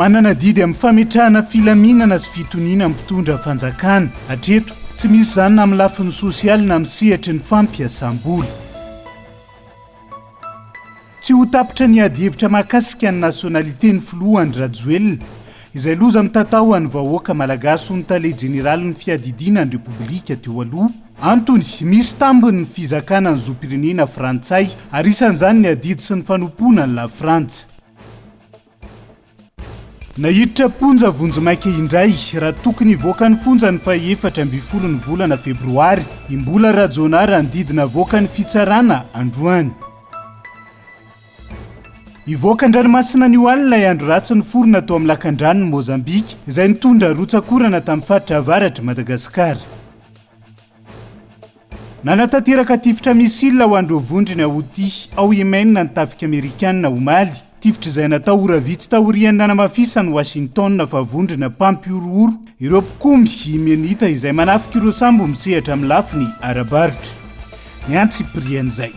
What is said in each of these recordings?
Manana didy amin'ny fametrahana filaminana sy fitoniana mpitondra fanjakana. Hatreto, tsy misy izany na amin'ny lafiny sosialy na amin'ny sehatry ny fampiasam-bola. Tsy ho tapitra ny adihevitra mahakasika ny nationalité ny filoha Andry Rajoelina, izay loza mitatao ho an'ny vahoaka malagasy hoy ny tale jeneralin'ny fiadidiana ny repoblika teo aloha. Antony, misy tambiny ny fizakana ny zom-pirenena frantsay, ary isan'izany ny adidy sy ny fanompoana an'i Lafrantsa. Naiditra am-ponja vonjimaika indray, raha tokony hivoaka ny fonja ny fahefatra ambin'ny folon'ny volana febroary i Mbola Rajaonah raha ny didy navoaka ny fitsarana androany. Hivoaka an-dranomasina anio alina ilay andro ratsy niforona tao amin'ny lakandranon'i Mozambika, izay nitondra rotsak'orana tamin'ny faritra avaratr'i Madagasikara. Nanatanteraka tifitra missile ho an'ireo vondrona Houthi ao Yemen ny tafika amerikanina omaly, tifitra izay natao ora vitsy taorian'ny nanamafisan'i Washington fa vondrona mpampihorohoro ireo mpikomy Yemenita izay manafika ireo sambo misehatra amin'ny lafiny ara-barotra. Ny antsipirian'izay.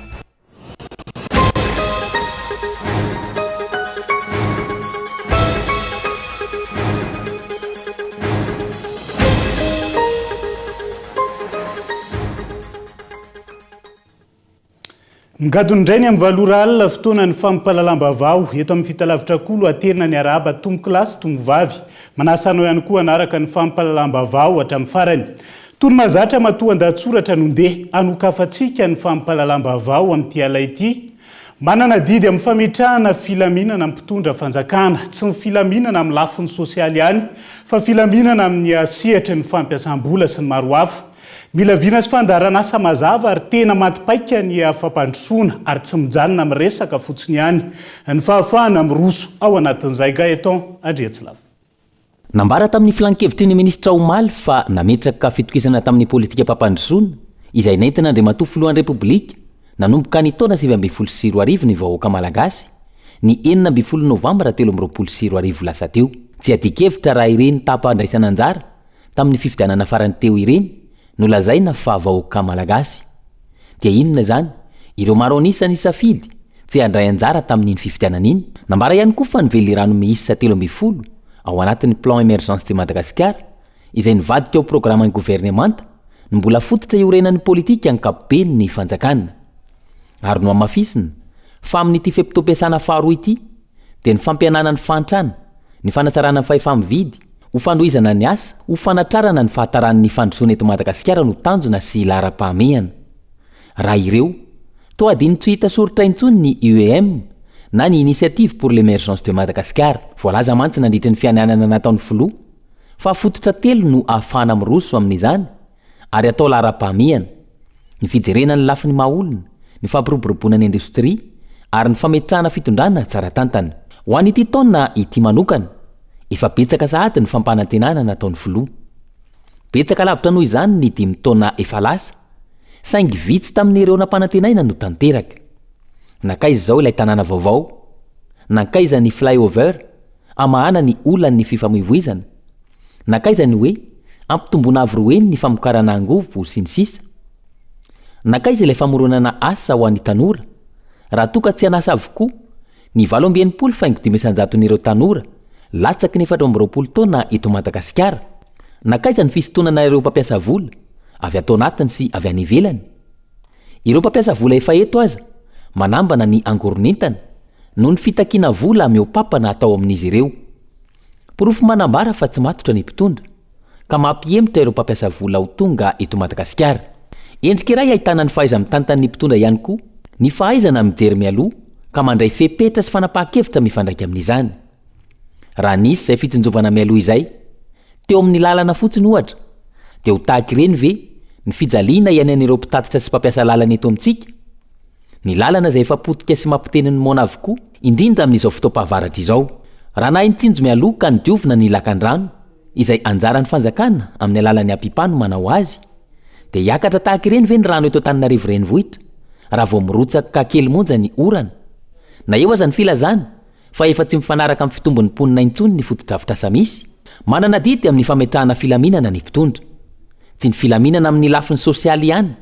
Ngadona indray ny amin'ny valo ora alina fotoana ny fampahalalam-bavao eto amin'ny fitalavitra kolo aterina ny arahaba tomokilasy tomovavy. Manasa anao ihany koa hanaraka ny fampahalalam-bavao hatramin'ny farany. Tony mahazatra matoandahatsoratra no ndeha hanokafantsika ny fampahalalam-baovao amin'ity ala ity. Manana adidy amin'ny fametrahana filaminana ny mpitondra fanjakana. Tsy ny filaminana amin'ny lafiny sosialy ihany fa filaminana amin'ny sehatry ny fampiasam-bola sy ny maro hafa. Mila vina sy fandaharanasa mazava ary tena maty paika ny fampandrosoana ary tsy mijanona amin'ny resaka fotsiny ihany ny fahafahana miroso ao anatin'izay. Gaëtan Andriatsilavo. Nambara tamin'ny filankevitry ny minisitra omaly fa nametraka fitokisana tamin'ny politikam-pampandrosoana, izay nentin'Andriamatoa Filohan'ny Repoblika, nanomboka ny taona sivy ambin'ny folo sy roa arivo ny vahoaka malagasy, ny enina ambin'ny folo novambra telo amby roapolo sy roa arivo lasa teo. Tsy adin-kevitra raha ireny taham-pandraisana anjara tamin'ny fifidianana farany teo ireny Nolazaina fa vahoaka malagasy. Dia inona izany? Ireo maro an'isa nisafidy tsy handray anjara tamin'iny fifidianana iny. Nambara ihany koa fa ny velirano miisa telo ambin'ny folo ao anatin'ny Plan Emergence de Madagascar, izay nivadika ho programan'ny governemanta, no mbola fototra iorenan'ny politika ankapoben'ny fanjakana. Ary nohamafisina fa amin'ity fe-potoam-piasana faharoa ity dia ny fampihenana ny fahantrana, ny fanatsarana ny fahefa-mividy, ho fanohizana ny asa, ho fanatrarana ny fahataran' ny fandrosoana eto Madagasikara no tanjona sy laharam-pahamehana. Raha ireo, toa adino tsy hita soritra intsony ny UEM na ny Initiative pour l'Emergence de Madagascar. Voalaza mantsy nandritry ny fianianana nataon'ny Filoha fa fototra telo no ahafahana miroso amin'izany, ary atao laharam-pahamehana, ny fijerena ny lafiny maha-olona, ny fampiroboroboana ny indostria, ary ny fametrahana fitondrana tsara tantana. Ho an'ity taona ity manokana, efa betsaka sahady ny fampanantenana nataon'ny Filoha. Betsaka lavitra noho izany ny dimy taona efa lasa, saingy vitsy tamin'ireo nampanantenaina no tanteraka. Nankaiza izao ilay tanàna vaovao? Nankaiza ny flyover hamahana ny olan'ny fifamoivoizana? Nankaiza ny hoe ampitomboina avo roa heny ny famokarana angovo sy ny sisa? Nankaiza ilay famoronana asa ho an'ny tanora? Raha toa ka tsy an'asa avokoa, ny valo amby enimpolo faingo dimy isan-jaton'ireo tanora latsaky ny efatra amby roapolo taona eto Madagasikara, nankaiza ny fisintonana ireo mpampiasa vola avy ato anatiny sy avy any ivelany? Ireo mpampiasa vola efa eto aza manambana ny angoron'entana noho ny fitakiana vola mihoapapana atao amin'izy ireo. Porofo manambara fa tsy matotra ny mpitondra, ka mampihemotra ireo mpampiasa vola ho tonga eto Madagasikara. Endrika iray ahitana ny fahaiza-mitantana ny mpitondra ihany koa ny fahaizana mijery mialoha ka mandray fepetra sy fanapahan-kevitra mifandraika amin'izany. Raha nisy izay fitsinjovana mialoha izay, teo amin'ny lalana fotsiny ohatra, dia ho tahaka ireny ve ny fijaliana iainan'ireo mpitatitra sy mpampiasa lalana eto amintsika? Ny lalana izay efa potika sy mampiteny ny moana avokoa, indrindra amin'izao fotoam-pahavaratra izao. Raha nahay nitsinjo mialoha ka nodiovina ny lakandrano, izay anjaran'ny fanjakana amin'ny alalan'ny APIPA no manao azy, dia hiakatra tahaka ireny ve ny rano eto Antananarivo Renivohitra raha vao mirotsaka kely monja ny orana? Na eo aza ny filazana fa efa tsy mifanaraka amin'ny fitombon'ny mponina intsony ny fotodrafitrasa misy, manana adidy amin'ny fametrahana filaminana ny mpitondra. Tsy ny filaminana amin'ny lafiny sosialy ihany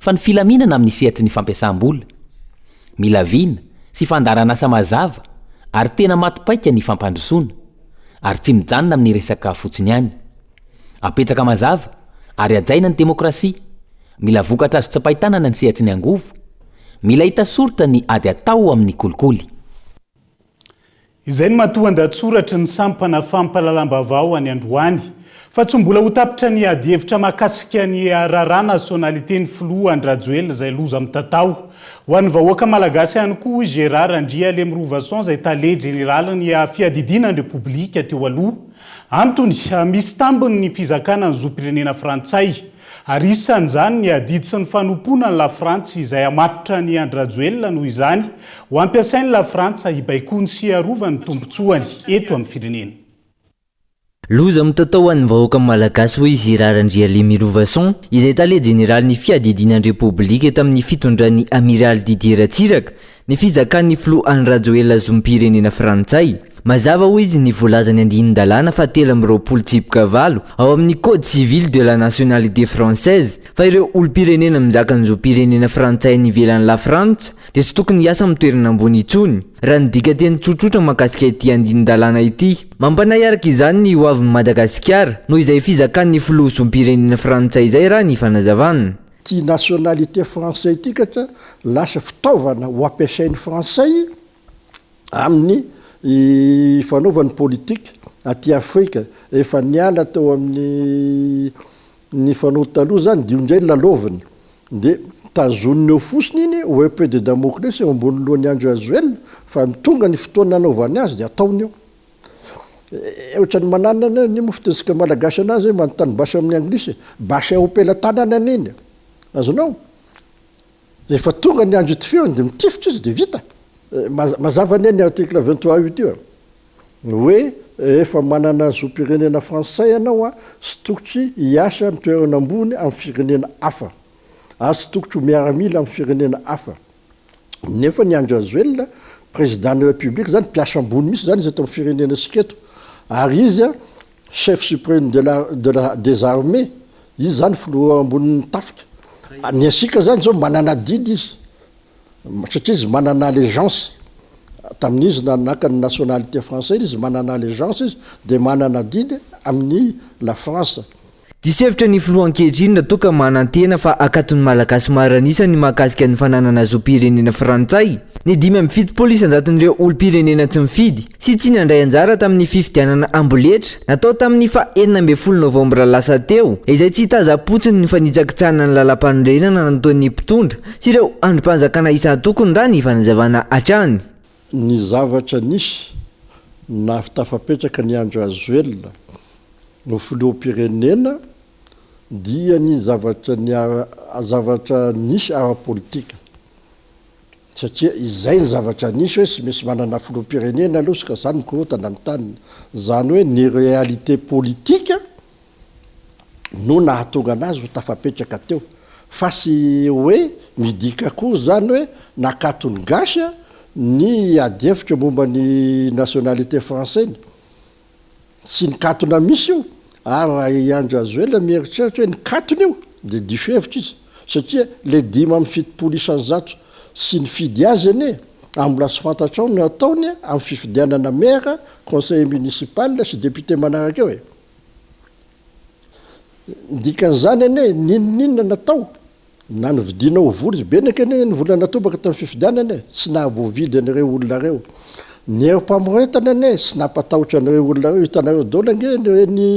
fa ny filaminana amin'ny sehatry ny fampiasam-bola, mila vina sy fandaharan'asa mazava ary tena maty paika ny fampandrosoana, ary tsy mijanona amin'ny resaka fotsiny ihany. Apetraka mazava ary hajaina ny demokrasia, mila vokatra azo tsapain-tanana ny sehatry ny angovo, mila hita soritra ny ady atao amin'ny kolikoly. Izay no matoan-dahatsoratry ny sampana fampahalalam-baovao any androany, fa tsy mbola ho tapitra ny adihevitra mahakasika ny raharaha nasionaliten'ny filoha Andry Rajoelina izay loza mitatao ho an'ny vahoaka malagasy ihany koa, hoy Gérard Andrialemirovason izay tale jeneralin'ny fiadidiana ny Repoblika teo aloha. Antony, misy tambiny ny fizakana ny zom-pirenena frantsay. Ary isan'izany ny adidy sy ny fanompoana ny Lafrantsa izay hamatotra an'i Andry Rajoelina noho izany ho hampiasain'ny Lafrantsa hibaikoany sy hiarovany ny tombontsoany eto amin'ny firenena. Loza mitatao ho an'ny vahoaka malagasy hoy izy Ra Randrialemy Lovason izay tale jeneralin'ny fiadidiana ny repoblika tamin'ny fitondran'ny Amiraly Didier Ratsiraka Ny fizakan'ny filoha Andry Rajoelina zom-pirenena frantsay. Mazava hoy izy ny voalazan'ny andinin-dalàna fahatelo amby roapolo tsipika valo ao amin'ny Code civil de la nationalité française fa ireo olom-pirenena mizaka ny zom-pirenena frantsay any ivelan'i Lafrantsa dia tsy tokony hiasa amin'ny toerana ambony intsony raha ny dikateny tsotsotra mahakasika ity andinin-dalàna ity. Mampanahy araka izany ny hoavin'i Madagasikara noho izay fizakan'ny filoha zom-pirenena frantsay izay raha ny fanazavana. Ty nationalité français ity ka dia lasa fitaovana ho ampiasain'ny frantsay amin'ny fanaovany politique aty afrika. Efa niala teo amin'ny ny fanao taloha zany dia io ndray lalaoviny dia tazoniny eo fosiny iny au epee de damoklesy eo ambony lohan'i Andry Rajoelina fa tonga ny fotoana hanaovany azy dia ataony eo. Ohatran'ny mananana ny mofo tototsika malagasy anazy hoe manontany basy amin'ny anglisy, basy ao am-pelatanany anie ny. Azonao? Efa tonga ny andro itifihany dia mitifitra izy dia vita. Mazava anie ny article vingt trois ut io hoe efa manana zom-pirenena frantsay ianao tsy tokotry hiasa amin'ny toerana ambony amin'ny firenena hafa ary tsy tokotry ho miaramila amin'ny firenena hafa. Nefa ny Andry Rajoelina président ny République zany mpiasa ambony mihitsy zany izy eto am firenena sika eto ary izy a chef supreme de la de la des armées izy zany filoha ambony ny tafika ny asika zany zao manana adidy izy satria izy manana allegeance tamin izy na naka ny nationalité français izy manana allegeance izy de manana adidy amin ny la France. Diso hevitra ny filoha ankehitriny raha toa ka manantena fa hakaton'ny Malagasy maro an'isa ny mahakasika ny fananana zom-pirenena frantsay ny dimy amby fitopolo isan-jaton'ireo olom-pirenena tsy nifidy sy tsy nandray anjara tamin'ny fifidianana amboletra natao tamin'ny faha enina ambin'ny folo novambra lasa teo izay tsy hitazam-potsiny ny fanitsakitsahana ny lalàmpanorenana nataon'ny mpitondra sy ireo andrim-panjakana isan-tokony raha ny fanazavana hatrany. Ny zavatra nisy, nahavtafapetraka ny Andry Rajoelina no filoham-pirenena dia ny zavatra ny zavatra nisy ara-politika satria izay ny zavatra nisy hoe tsy misy manana filoham-pirenena aloha sy ka izany mikorontana ny taniny izany hoe ny réalité politique no nahatonga anazy ho tafapetraka teo fa tsy hoe midika akory izany hoe nakaton'ny gasy ny adihevitra momba ny nationalité français ny Tsy nikatona mihitsy io, ary raha i Andry Rajoelina mieritreritra hoe nikatona io dia diso hevitra izy, satria ilay dimy amby fitopolo isan'ny zato tsy nifidy azy anie ary mbola tsy fantatrao ny hataony amin'ny fifidianana mera, conseiller municipal sy député manaraka eo e! Ny dikan'izany anie, n'inon'inona natao Na novidiana ho vory be neky anie ny vola natobaka tamin'ny fifidianana e, tsy nahavoavidy an'ireo olona ireo ny herim-pamoretana anie e, tsy nampatahotra an'ireo olona ireo, hitanareo daholo ange ny hoe ny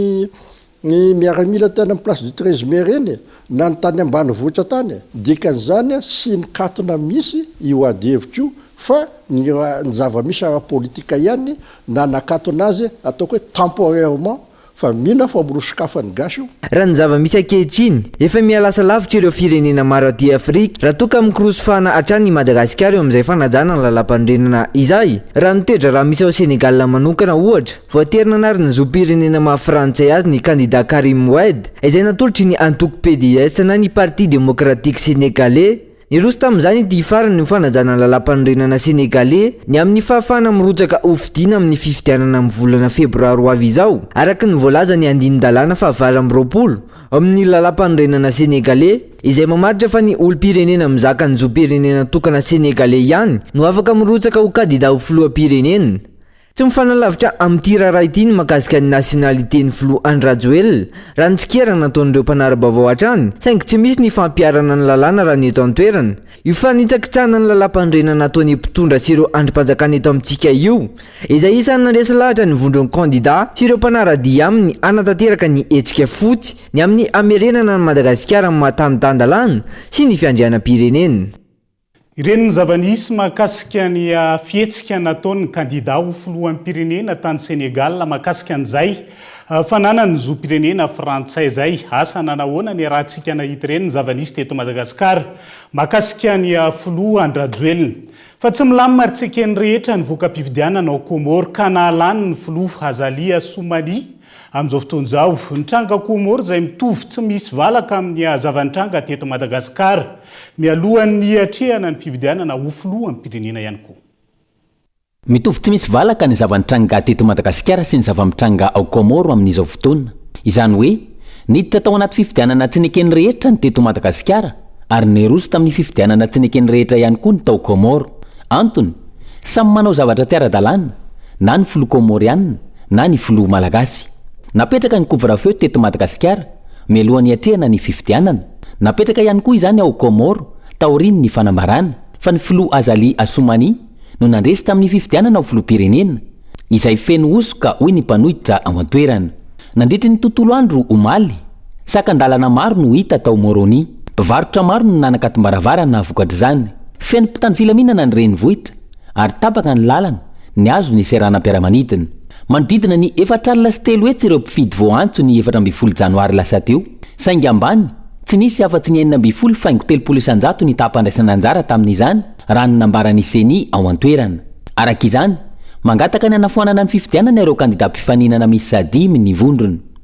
ny miaramila tany amin'ny place du 13 mai ireny e, na ny tany ambanivohitra tany e, dikan'izany a tsy nikatona mihitsy io ady hevitra io fa ny raha ny zava-misy ara-politika ihany na nakatona azy ataoko hoe temporairement, Fa mino aho fa mirosokafan'ny gasy io. Raha ny zava-misy ankehitriny, efa mihalasa lavitra ireo firenena maro aty Afrika raha toa ka mikorosofana hatrany i Madagasikara eo amin'izay fanajana ny lalàmpanorenana izay. Raha ny toe-draharaha misy ao Sénégal manokana, ohatra, voatery nanary ny zom-pirenena maha frantsay azy ny kandidà Karim Wade, izay natolotry ny antoko PDS na ny Parti Démocratique Sénégalais, Niroso tamin'izany ity hifarany ny fanajana ny Lalàmpanorenana Senegaley ny amin'ny fahafahana mirotsaka ho fidiana amin'ny fifidianana amin'ny volana febroary ho avy izao, araka ny voalazan'ny andinin-dalàna fahavalo amby roapolo ao amin'ny Lalàmpanorenana Senegaley, izay mamaritra fa ny olom-pirenena mizaka ny zom-pirenena tokana Senegaley ihany no afaka mirotsaka ho kandida ho filoham-pirenena. Tsy mifanalavitra amin'ity raharaha ity ny mahakasika ny nationalité-n'ny filoha Andry Rajoelina, raha ny tsikera nataon'ireo mpanara-baovao hatrany, saingy tsy misy ny fampiharana ny lalàna raha ny eto an-toerana. Io fanitsakitsahana ny lalàmpanorenana ataon'ny mpitondra sy ireo andrim-panjakana eto amintsika io, izay isan'ny nandresy lahatra ny vondron'ny kandidà sy ireo mpanara-dia aminy hanatanteraka ny hetsika fotsy ny amin'ny hamerenana an'i Madagasikara maha-tanindàndalàna sy ny fiandrianam-pirenena. Ireny ny zava-nisy mahakasika ny fihetsika nataon'ny kandida ho filoham-pirenena tany Sénégal mahakasika an'izay fananany ny zom-pirenena frantsay izay. Asa nanahoana ny iarahantsika nahita ireny ny zava-nisy teto Madagasikara mahakasika ny filoha Andrajoelina. Fa tsy milamina ary tsy eken'ny rehetra ny voka-pifidianana ao Comores ka nahalany ny filoha Azali Assoumani Amin'izao fotoana izao, ny tranga Comores izay mitovy tsy misy valaka amin'ny zava-nitranga teto Madagasikara, mialohan'ny hiatrehana ny fifidianana ho filoham-pirenena ihany koa. Mitovy tsy misy valaka ny zava-nitranga teto Madagasikara sy ny zava-mitranga ao Comores amin'izao fotoana. Izany hoe, niditra tao anaty fifidianana tsy neken'ny rehetra ny teto Madagasikara, ary niroso tamin'ny fifidianana tsy neken'ny rehetra ihany koa ny tao Comores. Antony, samy manao zavatra tsy ara-dalàna, na ny filoha Kômôriana, na ny filoha Malagasy. Napetraka ny couvre-feu teto Madagasikara, mialohan'ny hiatrehana ny fifidianana. Napetraka ihany koa izany ao Kômôro, taorian'ny fanambarana, fa ny filoha Azali Assoumani no nandresy tamin'ny fifidianana ho filoham-pirenena, izay feno hosoka, hoy ny mpanohitra ao an-toerana. Nandritry ny tontolo andro, omaly, Sakan-dalana maro no hita tao Moroni. Mpivarotra maro no nanakatom-baravarana vokatr'izany. Feno mpitandro filaminana ny renivohitra, ary tapaka ny lalana, nihazo ny seranam-piaramanidina. Manodidina ny efatra alina sy telo hetsy ireo mpifidy voaantso ny efatra ambin'ny folo janoary lasa teo. Saingy ambany, tsy nisy afa-tsy ny enina ambin'ny folo faingo telopolo isan-jato ny taham-pandraisana anjara tamin'izany, raha ny nambaran'ny Ceni ao an-toerana. Araka izany, mangataka ny hanafoanana ny fifidianana ireo kandidà mpifaninana misy sahadimy ny vondrona.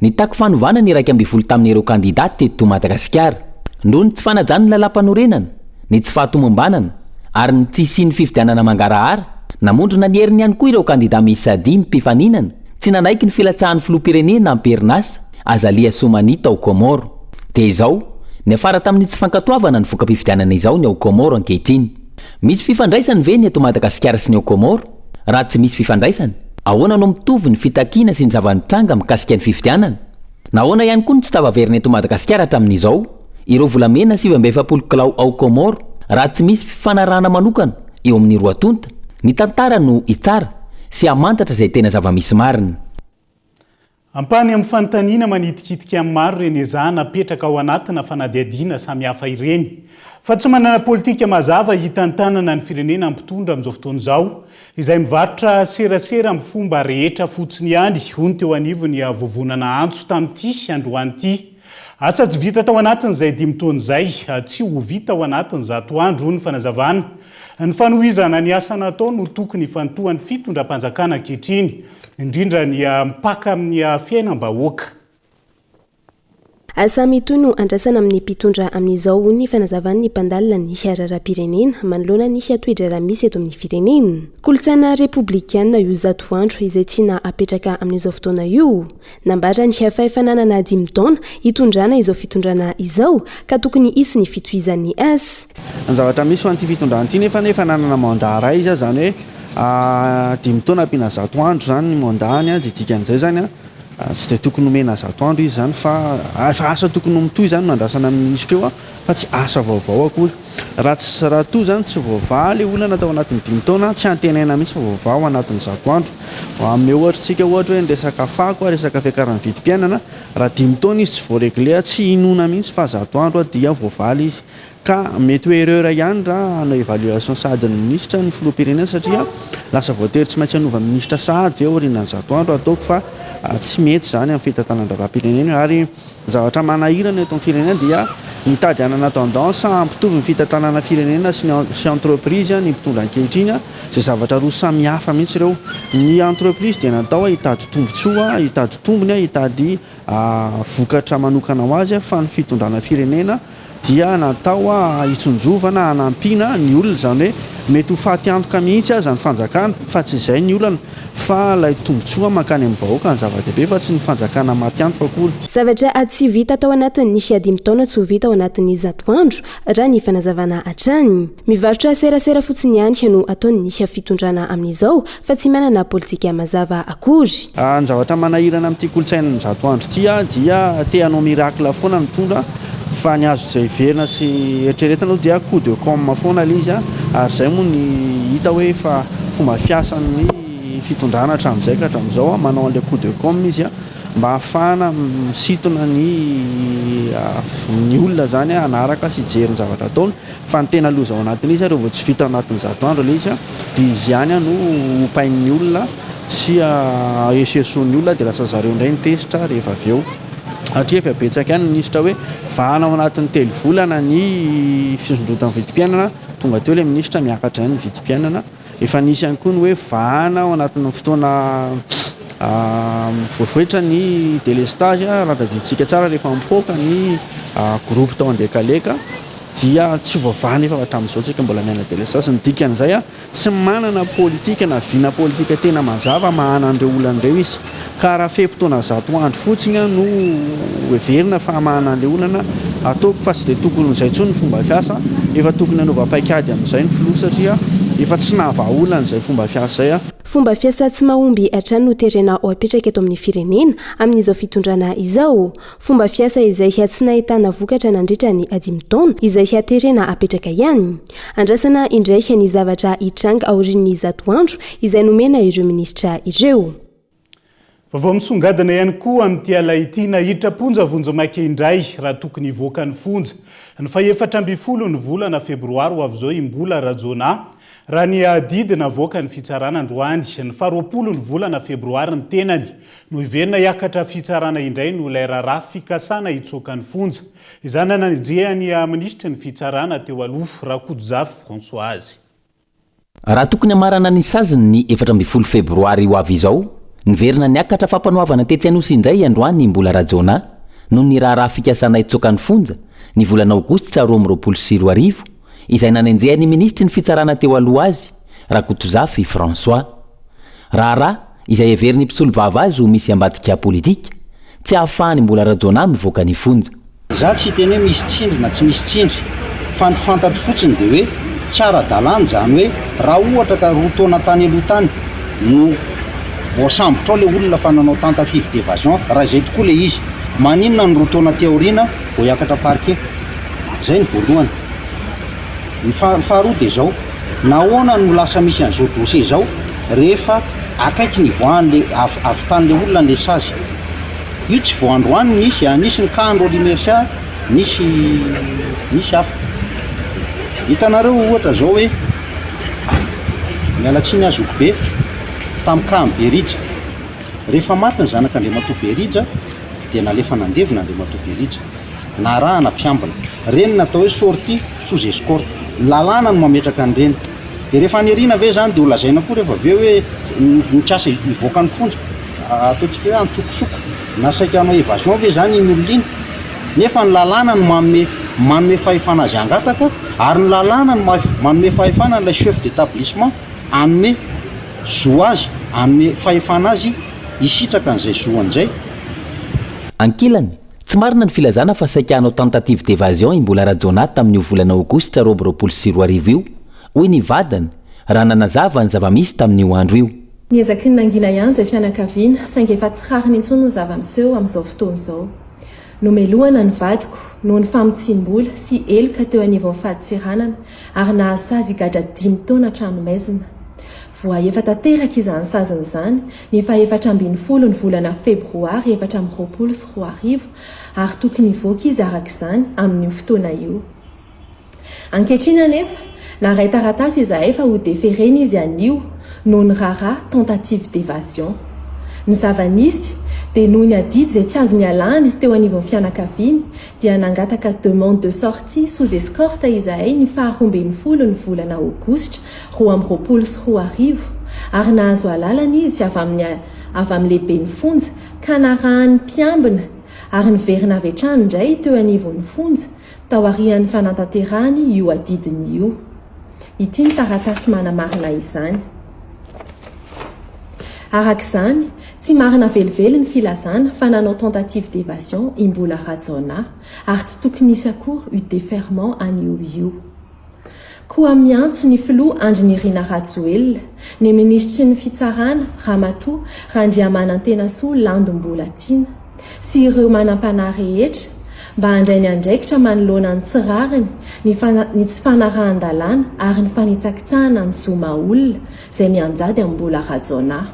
Nitaky fanovana ny iraika ambin'ny folo tamin'ireo kandidà teto Madagasikara. Noho ny tsy fanajan'ny Lalàmpanorenana, ny tsy fahatomombanana ary ny tsy hisian'ny fifidianana mangarahara, namondrona ny heriny ihany koa ireo kandidà miisa dimy mpifaninana tsy nanaiky ny filatsahan'ny Filoham-pirenena am-perinasa Azali Assoumani tao Kaomoro. Dia izao, niafara tamin'ny tsy fankatoavana ny voka-pifidianana izao ny ao Kaomoro ankehitriny. Misy fifandraisany ve ny eto Madagasikara sy ny ao Kômôro? Raha tsy misy fifandraisany, ahoana no mitovy ny fitakiana sy ny zava-nitranga mikasika ny fifidianana? Nahoana ihany koa no tsy tafaverina eto Madagasikara hatramin'izao ireo volamena sivy amby efapolo kilao ao Kômôro raha tsy misy fifanarahana manokana eo amin'ny roa tonta? Ny tantara no hitsara sy hamantatra izay tena zava-misy marina. Ampahany amin'ny fanontaniana manitikitika ny maro ireny ezahana apetraka ao anatina fanadihadiana samihafa ireny. Fa tsy manana politika mazava hitantanana ny firenena ny mpitondra amin'izao fotoana izao, izay mivarotra serasera amin'ny fomba rehetra fotsiny ihany, hoy ny teo anivon'ny Vovonana Antso tamin'ity androany ity. Asa tsy vita tao anatin'izay dimy taona izay, tsy ho vita ao anatin'ny zato andro, hoy ny fanazavana. Ny fanohizana ny asa natao no tokony hifantohan'ny fitondram-panjakana ankehitriny, indrindra ny mpaka amin'ny fiainam-bahoaka. Asa mitohy no andrasana amin'ny mpitondra amin'izao, hoy ny fanazavan'ny mpandalina ny raharaham-pirenena manoloana ny toe-draharaha misy eto amin'ny firenena. Kolontsaina repoblikanina io zato andro izay tiana apetraka amin'izao fotoana io. Nambaran'ny HFI fa nanana dimy taona hitondrana izao fitondrana izao ka tokony hisy ny fitohizan'ny asa. Ny zavatra misy ho an'ity fitondrana ity nefa efa nanana mandat iray izy izany hoe dimy taona ampiana zato andro izany ny mandat-ny dia dikan'izay izany tsy dia tokony homena zato andro izy izany fa efa asa tokony ho mitohy izany no andrasana amin'ny minisitra eo. fa tsy asa vaovao akory. Raha tsy, raha toa izany tsy voavaha ilay olana tao anatin'ny dimy taona, tsy antenaina mihitsy fa voavaha ao anatin'ny zato andro. Hanome ohatr'tsika ohatra hoe ny resaka fako, resaka fiakaran'ny vidim-piainana, raha dimy taona izy tsy voaregle, tsy hinoana mihitsy fa zato andro dia voavaly izy. Ka mety ho erreur ihany raha hanao evaluation sahady ny minisitra ny filoham-pirenena satria lasa voatery tsy maintsy hanova minisitra sahady ve aorianan'ny zato andro, ataoko fa tsy mety izany amin'ny fitantanan-draharaham-pirenena ary Ny zavatra manahirana eto amin'ny firenena dia mitady hanana tendance hampitovy ny fitantanana firenena sy ny entreprise ny mpitondra ankehitriny, izay zavatra roa samihafa mihitsy ireo. Ny entreprise dia natao hitady tombotsoa, hitady tombony, hitady vokatra manokana ho azy fa ny fitondrana firenena, dia natao hitsinjovana, hanampiana ny olona, izany hoe mety ho faty antoka mihitsy aza ny fanjakana fa tsy izay ny olana fa ilay tombotsoa mankany amin'ny vahoaka no zava-dehibe fa tsy ny fanjakana maty antoka akory. Zavatra tsy vita tao anatin'ny dimy taona tsy ho vita ao anatin'ny zato andro raha ny fanazavana hatrany. Mivarotra serasera fotsiny ihany no ataon'ny fitondrana amin'izao fa tsy manana politika mazava akory. Ny zavatra manahirana amin'ity kolontsainan'ny zato andro ity dia te hanao miracle foana ny mpitondra fa ny azo heverina sy eritreretina aloha dia coup de com foana ilay izy ary izay moa no hita hoe efa fomba fiasan'ny fitondrana hatramin'izay ka hatramin'izao, manao an'ilay coup de com izy mba hahafahana misintona ny olona izany hanaraka sy hijery ny zavatra ataony. Fa ny tena loza ao anatin'izy ireo vao tsy vita ao anatin'ny zato andro ilay izy dia izy ihany no hopain'ny olona sy ahesoheson'ny olona dia lasa zareo indray ny tezitra rehefa avy eo. Hatria efa betsaka ihany ny minisitra hoe vahana ao anatin'ny telo volana ny fisondrotan'ny vidim-piainana, tonga teo ilay minisitra miakatra ihany ny vidim-piainana. Efa nisy ihany koa ny hoe vahana ao anatin'ny fotoana voavoitra ny delestage, raha tadidintsika tsara rehefa mipoaka ny groupe tao Andekaleka dia tsy ho vavahana efa hatramin'izao tsika mbola miaina delestage, ny dikan'izay tsy manana politika na vina politika tena mazava mahana an'ireo olana ireo izy. ka raha fe-potoana zato andro fotsiny no heverina fa hamahana an'ilay olana, ataoko fa tsy dia tokony ho izay intsony ny fomba fiasa, efa tokony hanova paikady amin'izay ny filoha satria efa tsy nahavahaolana izay fomba fiasa izay. Fomba fiasa tsy mahomby hatrany no terena ho apetraka eto amin'ny firenena amin'izao fitondrana izao. Fomba fiasa izay tsy nahitana vokatra nandritra ny dimy taona izay terena hapetraka ihany. Andrasana indray ny zavatra hitranga aorian'ny zato andro izay nomena ireo minisitra ireo. Vaovao misongadina ihany koa amin'ity alina ity, nahitra am-ponja vonjimaika indray raha tokony hivoaka ny fonja ny fahefatra ambin'ny folo ny volana febroary ho avy izao i Mbola Rajaonah, raha ny adidy navoaka ny fitsarana androany, ny faharoapolo ny volana febroary ny tenany no hiverina hiakatra fitsarana indray noho ilay raharaha fikasana hitsoaka ny fonja. Izany nanajehan'ny minisitry ny Fitsarana teo aloha, Rakodozafy Françoise. Raha tokony hamarana ny saziny ny efatra ambin'ny folo febroary ho avy izao, niverina niakatra fampanoavana tetsy Anosy indray androany i Mbola Rajaonah noho ny raharaha fikasana hitsoaka ny fonja, ny volana aogositra roa amby roapolo sy roa arivo, izay nanenjehan'ny minisitry ny Fitsarana teo aloha azy, Rakotozafy François. Raharaha izay heverin'ny mpisolovava azy ho misy ambadika politika, tsy ahafahan'i Mbola Rajaonah mivoaka ny fonja. Izaho tsy hiteny hoe misy tsindry na tsy misy tsindry, fa ny fantatro fotsiny dia hoe tsy ara-dalàna izany hoe raha ohatra ka roa taona tany aloha tany no voasambotrao ilay olona fa nanao tentative d'evasion, raha izay tokoa ilay izy, maninona ny roa taona aty aoriana? vao hiakatra parquet. Izay ny voalohany. Ny faha- faharoa dia izao, nahoana no lasa misy an'izao dossier izao rehefa akaiky ny hivoahan'ilay, avy, havitan'ilay olona ilay sazy. Io tsy vao androany no nisy an, nisy ny cas-n'i Rolly Mercia, nisy, nisy hafa. Hitanareo ohatra izao hoe, miala tsiny aho zokibe, tamin'ny cas-n'i Berija. Rehefa maty ny zanak'Andriamatoa Berija, dia nalefa nandevo ny Andriamatoa Berija. Narahana mpiambina. Ireny no atao hoe sortie sous escorte. Ny lalàna no mametraka an'ireny. Dia rehefa any aoriana ve izany dia ho lazaina koa rehefa avy eo hoe nikasa hivoaka ny fonja? Ataontsika hoe antsokosoko. Na saika hanao evasion ve izany iny olona iny? Nefa ny lalàna no manome, manome fahefana azy hangataka ary ny lalàna no manome fahefana an'ilay chef d'établissement hanome zo azy, hanome fahefana azy. Hisitraka an'izay zo an'izay. Ankilany, tsy marina ny filazana fa saika hanao tentative d'evasion i Mbola Rajaonah tamin'io volana aogositra roa amby roapolo sy roa arivo io, hoy ny vadiny, raha nanazava ny zava-misy tamin'io andro io. Niezaky ny nangina ihany izay fianakaviana, saingy efa tsy rariny intsony ny zava-miseho amin'izao fotoana izao. Nomelohana ny vadiko noho ny famotsiam-bola sy heloka teo anivon'ny fadintseranana ary nahasazy higadra dimy taona an-tranomaizina. Voahefa tanteraka izany saziny izany, ny fahefatra ambin'ny folo ny volana febroary efatra amby roapolo sy roa arivo, ary tokony hivoaka izy araka izany amin'io fotoana io. Ankehitriny anefa, naray taratasy izahay fa hodeferena izy anio noho ny raharaha tentative d'évasion. Ny zava-nisy, dia noho ny adidy izay tsy azo nialany teo anivon'ny fianakaviany, dia nangataka demande de sortie sous escorte izahay ny faha roa ambin'ny folo ny volana aogositra roa amby roapolo sy roa arivo ary nahazo alalana izy avy amin'ny avy amin'ny lehiben'ny fonja ka narahan'ny mpiambina ary niverina avy hatrany indray teo anivon'ny fonja taorian'ny fanantanterahany io adidiny io. Ity ny taratasy manamarina izany. Araka izany, Tsy marina velively ny filazana fa nanao tentative d'evasion i Mbola Rajaonah ary tsy tokony hisy akory io deferment anio io. Koa miantso ny filoha Andry Nirina Rajoelina, ny minisitry ny fitsarana Ramatoa Randriamanantenasoa Landu Mbolatiana sy ireo manampanahy rehetra mba handray ny andraikitra manoloana ny tsy rariny, ny tsy fanarahan-dalàna ary ny fanitsakitsahana ny zo maha olona izay mianjady amin'i Mbola Rajaonah.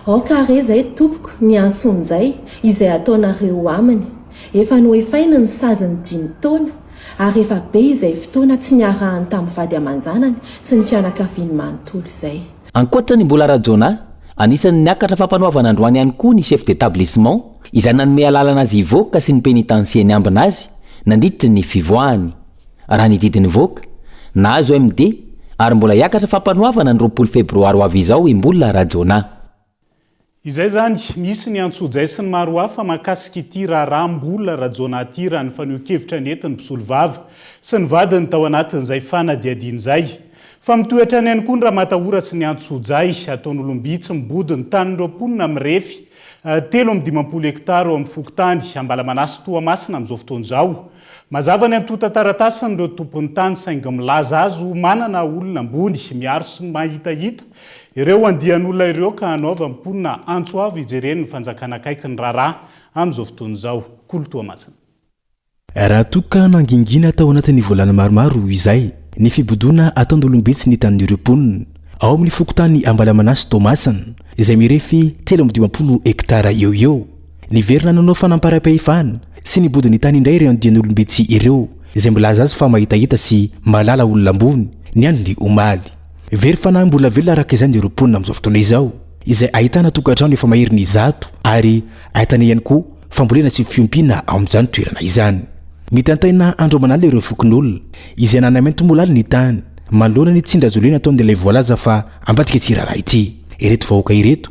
Aoka àry izay, tompoko, ny antsonjay izay ataonareo aminy. Efa noefainy ny sazin'ny dimy taona, ary efa be izay fotoana tsy niarahany tamin'ny vady aman-janany sy ny fianakaviany manontolo izay. Ankoatra ny Mbola Rajona, anisan'ny niakatra fampanoavana androany ihany koa ny Chef d'Etablissement, izay nanome alalana azy hivoaka sy ny Penitancier niambina azy, nandritry ny fivoahany. raha ny didy nivoaka, nahazo MD ary mbola hiakatra fampanoavana ny roapolo febroary ho avy izao i Mbola Rajaonah. Izay izany, misy ny antsojay sy ny maro hafa mahakasika ity raharaha Mbola Rajaonah ity raha ny fanehoan-kevitra nentin'ny mpisolovava sy ny vadiny tao anatin'izay fanadihadiana izay. Fa mitohy hatrany ihany koa ny ramatahora sy ny antsojay ataon'olom-by tsy mibodo ny tanin'ireo mponina mirefy telo amby dimampolo hektara eo amin'ny fokontany Ambalamanasy Toamasina amin'izao fotoana izao. Mazava ny antontan-taratasin'ireo tompon'ny tany saingy milaza azy ho manana olona ambony, miaro sy mahitahita ireo andian'olona ireo ka hanaovany mponina antso avo hijereny ny fanjakana akaiky ny raharaha amin'izao fotoana izao. Kolo Toamasina. Raha toa ka nangingina tao anatin'ny volana maromaro izay ny fibodoana ataon-dOlombitsy ny tanin'ireo mponina ao amin'ny fokontany Ambalamanasy Toamasina izay mirefy telo amby dimampolo hektara eo ho eo, Niverina nanao fanamparam-pahefana sy nibodo ny tany indray ireo andian'olom-bitsy ireo, izay milaza azy fa mahitahita sy mahalala olona ambony, ny andron'ny omaly. Very fanahy mbola velona araka izany ireo mponina amin'izao fotoana izao, izay ahitana tokantrano efa mahery ny zato ary ahitana ihany koa fambolena sy fiompiana ao amin'izany toerana izany. Mitantaina andro aman'alina ireo fokonolona, izay nanamaintimolaly ny tany, manoloana ny tsindazolena ataon'ilay voalaza fa ambadika tsirara ity. Ireto vahoaka ireto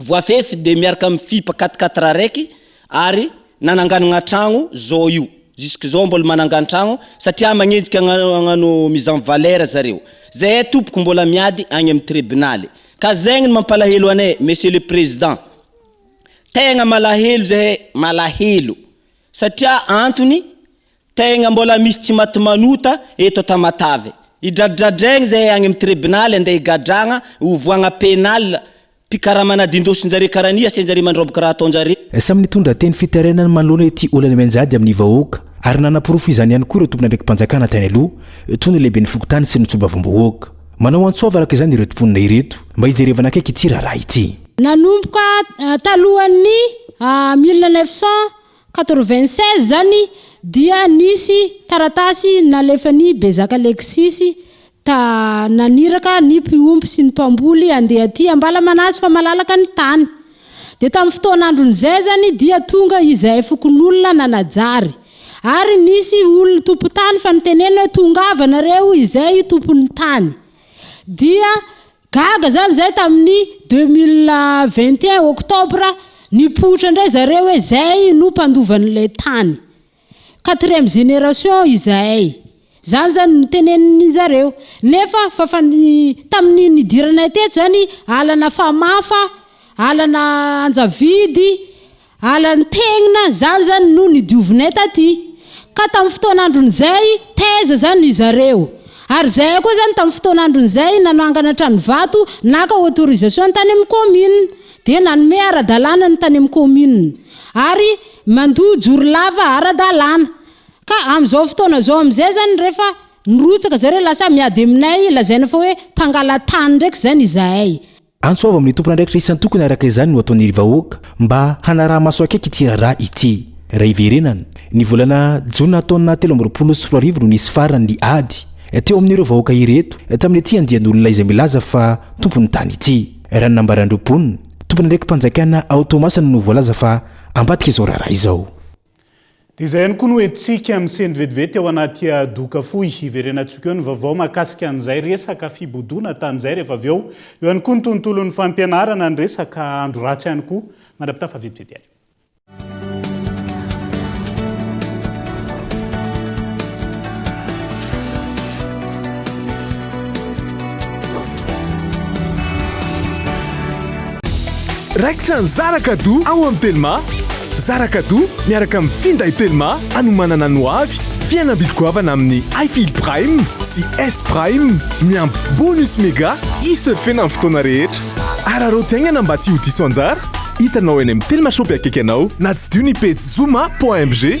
Voafefy dia miaraka amin'ny fipa quatre quatre araiky ary nananganagna tragno zao io. Jusque zao mbola manangano tragno satria magnenjika agnano mise en valeur zareo. Zahay tompoko mbola miady agny amin'ny tribunaly. Ka zegny ny mampalahelo anay Monsieur le Président. Tegna malahelo zahay, malahelo. Satria antony Tegna mbola misy tsy maty manota eto Tamatave. Idradradraigny zahay agny am tribonaly andeha higadragna hovoagna penal mpikarama nadindosinjare kara ny asenjare mandroboka raha ataonjare. Samy nitondra teny fitarainany manoloana ity olana mianjady amin'ny vahoaka ary nanaporofo izany ihany koa ireo tompon'andraiki-panjakana tany aloha toy ny lehiben'ny fokontany sy ny tsobavambahoaka. Manao antso avo araka izany ireto mponina ireto mba hijerevana akaiky ity raharaha ity. Nanomboka talohan'ny mille neuf cent Quatre-vingt-seize zany dia nisy taratasy nalefan'i Bezaka Lexisy ta naniraka ny mpiompy sy ny mpamboly andeha aty Ambalamanasy fa malalaka ny tany. Dia tamin'ny fotoan'andron'izay zany dia tonga izay fokonolona nanajary. Ary nisy olona tompon-tany fa nitenenina hoe tongava nareo izay tompon'ny tany. Dia Gaga izany izay tamin'ny deux mille vingt et un octobre nipoitra indray zareo hoe izay no mpandova an'ilay tany. Quatrième génération izahay. Izany izany no tenenin'ny zareo. Nefa fafany tamin'ny nidiranay teto izany alana famafa, alana anjavidy, Ala nitenona, izany izany no nidiovinay taty ka tamin'ny fotoan'andron'izay taiza izany ry zareo? Ary izahay koa izany tamin'ny fotoan'andron'izay nanangana trano vato naka autorisation ny tany amin'ny commune dia nanome ara-dalàna ny tany amin'ny commune ary mandoa jorolava ara-dalàna ka amin'izao fotoana izao amin'izay izany rehefa nirotsaka zareo lasa miady aminay lazaina fa hoe mpangala-tany ndraiky izany izahay Antso avo amin'ny tompon'andraikitra isan-tokony araka izany no ataon'ny ry vahoaka mba hanaraha-maso akaiky ity raharaha ity. Raha hiverenana, ny volana jona taona telo amby roapolo sy roa arivo no nisy farany ny ady teo amin'ireo vahoaka ireto tamin'ity andian'olona izay milaza fa tompon'ny tany ity. Raha ny nambaran'ireo mponina, tompon'andraiki-panjakana ao Toamasina no voalaza fa ambadika izao raharaha izao. Dia izay ihany koa no entintsika misento vetivety ao anaty doka fohy. Hiverenantsika eo ny vaovao mahakasika an'izay resaka fibodoana tany izay rehefa avy eo. Eo ihany koa ny tontolon'ny fampianarana, ny resaka andro ratsy ihany koa. Mandrapitafa vetivety ary. Raikitra ny Zara Kado ao amin'ny Telma! Zara Kado miaraka amin'ny finday Telma anomanana ny hoavy, fihenam-bidy goavana amin'ny iFeel Prime sy S Prime, miampy bonus mega hi-surfer-na amin'ny fotoana rehetra. Araraoty haingana mba tsy ho diso anjara! Hitanao eny amin'ny Telma Shop akaiky anao na tsidiho ny pejy zoma.mg.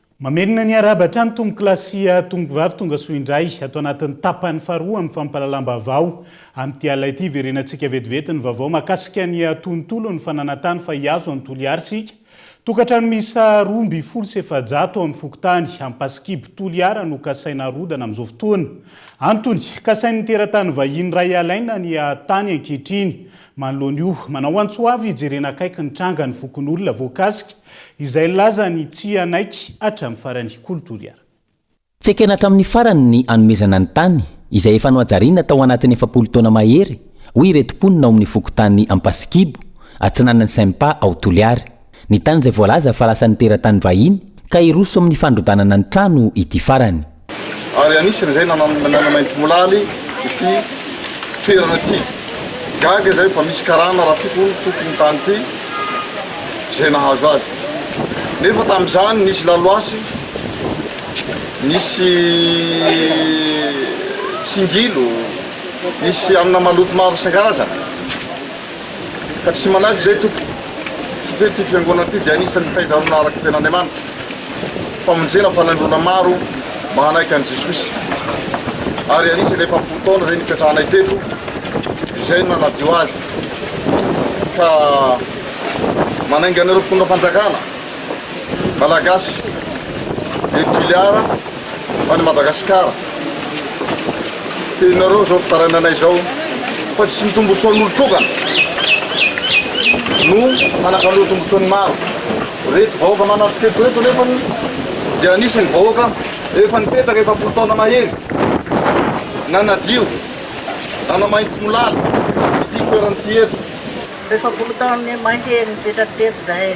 Mamelona ny hiarahaba hatrany tompokolahy sy tompokovavy tonga soa indray ato anatin'ny tapany faharoa amin'ny fampahalalam-baovao. Amin'ity alina ity, verenantsika vetivety ny vaovao mahakasika ny tontolon'ny fananantany fa hihazo an'i Toliary isika. Tokantrano miisa roa ambin'ny folo sy efajato ao amin'ny fokontany Ampasikibo Toliara no kasaina harodana amin'izao fotoana. Antony, kasain'ny teratany vahiny iray alaina ny tany ankehitriny. Manoloana io, manao antso avo hijerena akaiky ny tranga ny fokonolona voakasika. Izay nilaza ny tsy hanaiky hatramin'ny farany, Kolo Toliara. Tsy ekena hatramin'ny farany ny hanomezana ny tany, izay efa nohajariana tao anatin'ny efapolo taona mahery, hoy ireto mponina ao amin'ny fokontany Ampasikibo, atsinanan'ny Sympa ao Toliary. Ny tany izay voalaza fa lasan'ny teratany vahiny, ka hiroso amin'ny fandrodanana ny trano ity farany. ary anisan'izay nanamaintimolaly ity toerana ity. Gaga izay fa misy karana rafiko ny tompon'ny tany ity izay nahazo azy. Nefa tamin'izany nisy laloasy, nisy tsingilo, nisy amina maloto maro isan-karazany. ka tsy manahy izay tompoko satria ity fiangonana ity dia anisan'ny mitaiza amina araka ny tenaN'Andriamanitra famonjena fanain'ny olona maro mba hanaiky an'i Jesosy ary anisan'ny efapolo taona izay nipetrahanay teto izay no nanadio azy ka manainga an'ireo mpitondra fanjakana Malagasy et Tuléar any Madagascar Henonareo izao fitarainanay izao fa tsy ny tombotsoan'olo tokana no hanakaloa tombotsoan'ny maro reto vahoaka manatokeko reto nefa dia anisan'ny vahoaka efa nipetraka efapolo taona mahery nanadio nanamainty molala ity toerana ity eto efapolo taona mahery nipetraka teto zahay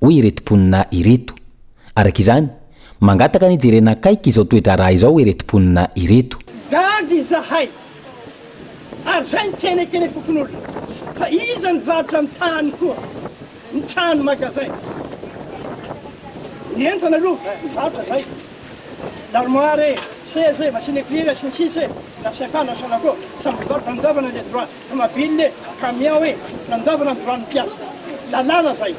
hoy ireto mponina ireto. Araka izany, mangataka ny hijerena akaiky izao toe-draharaha izao ireto mponina ireto. Gaga izahay ary izay ny tsena ekena fokonolona fa iza ny varotra ny tany koa ny trano magasin ny entana aloha ny varotra izay l'armoire e seza e machine écrire e sy ny sisa e na sympa na sonaco samy mivarotra ny dovana le droit Tomabile e, camion e, nandoavana ny droit ny mpiasa. Lalàna zay.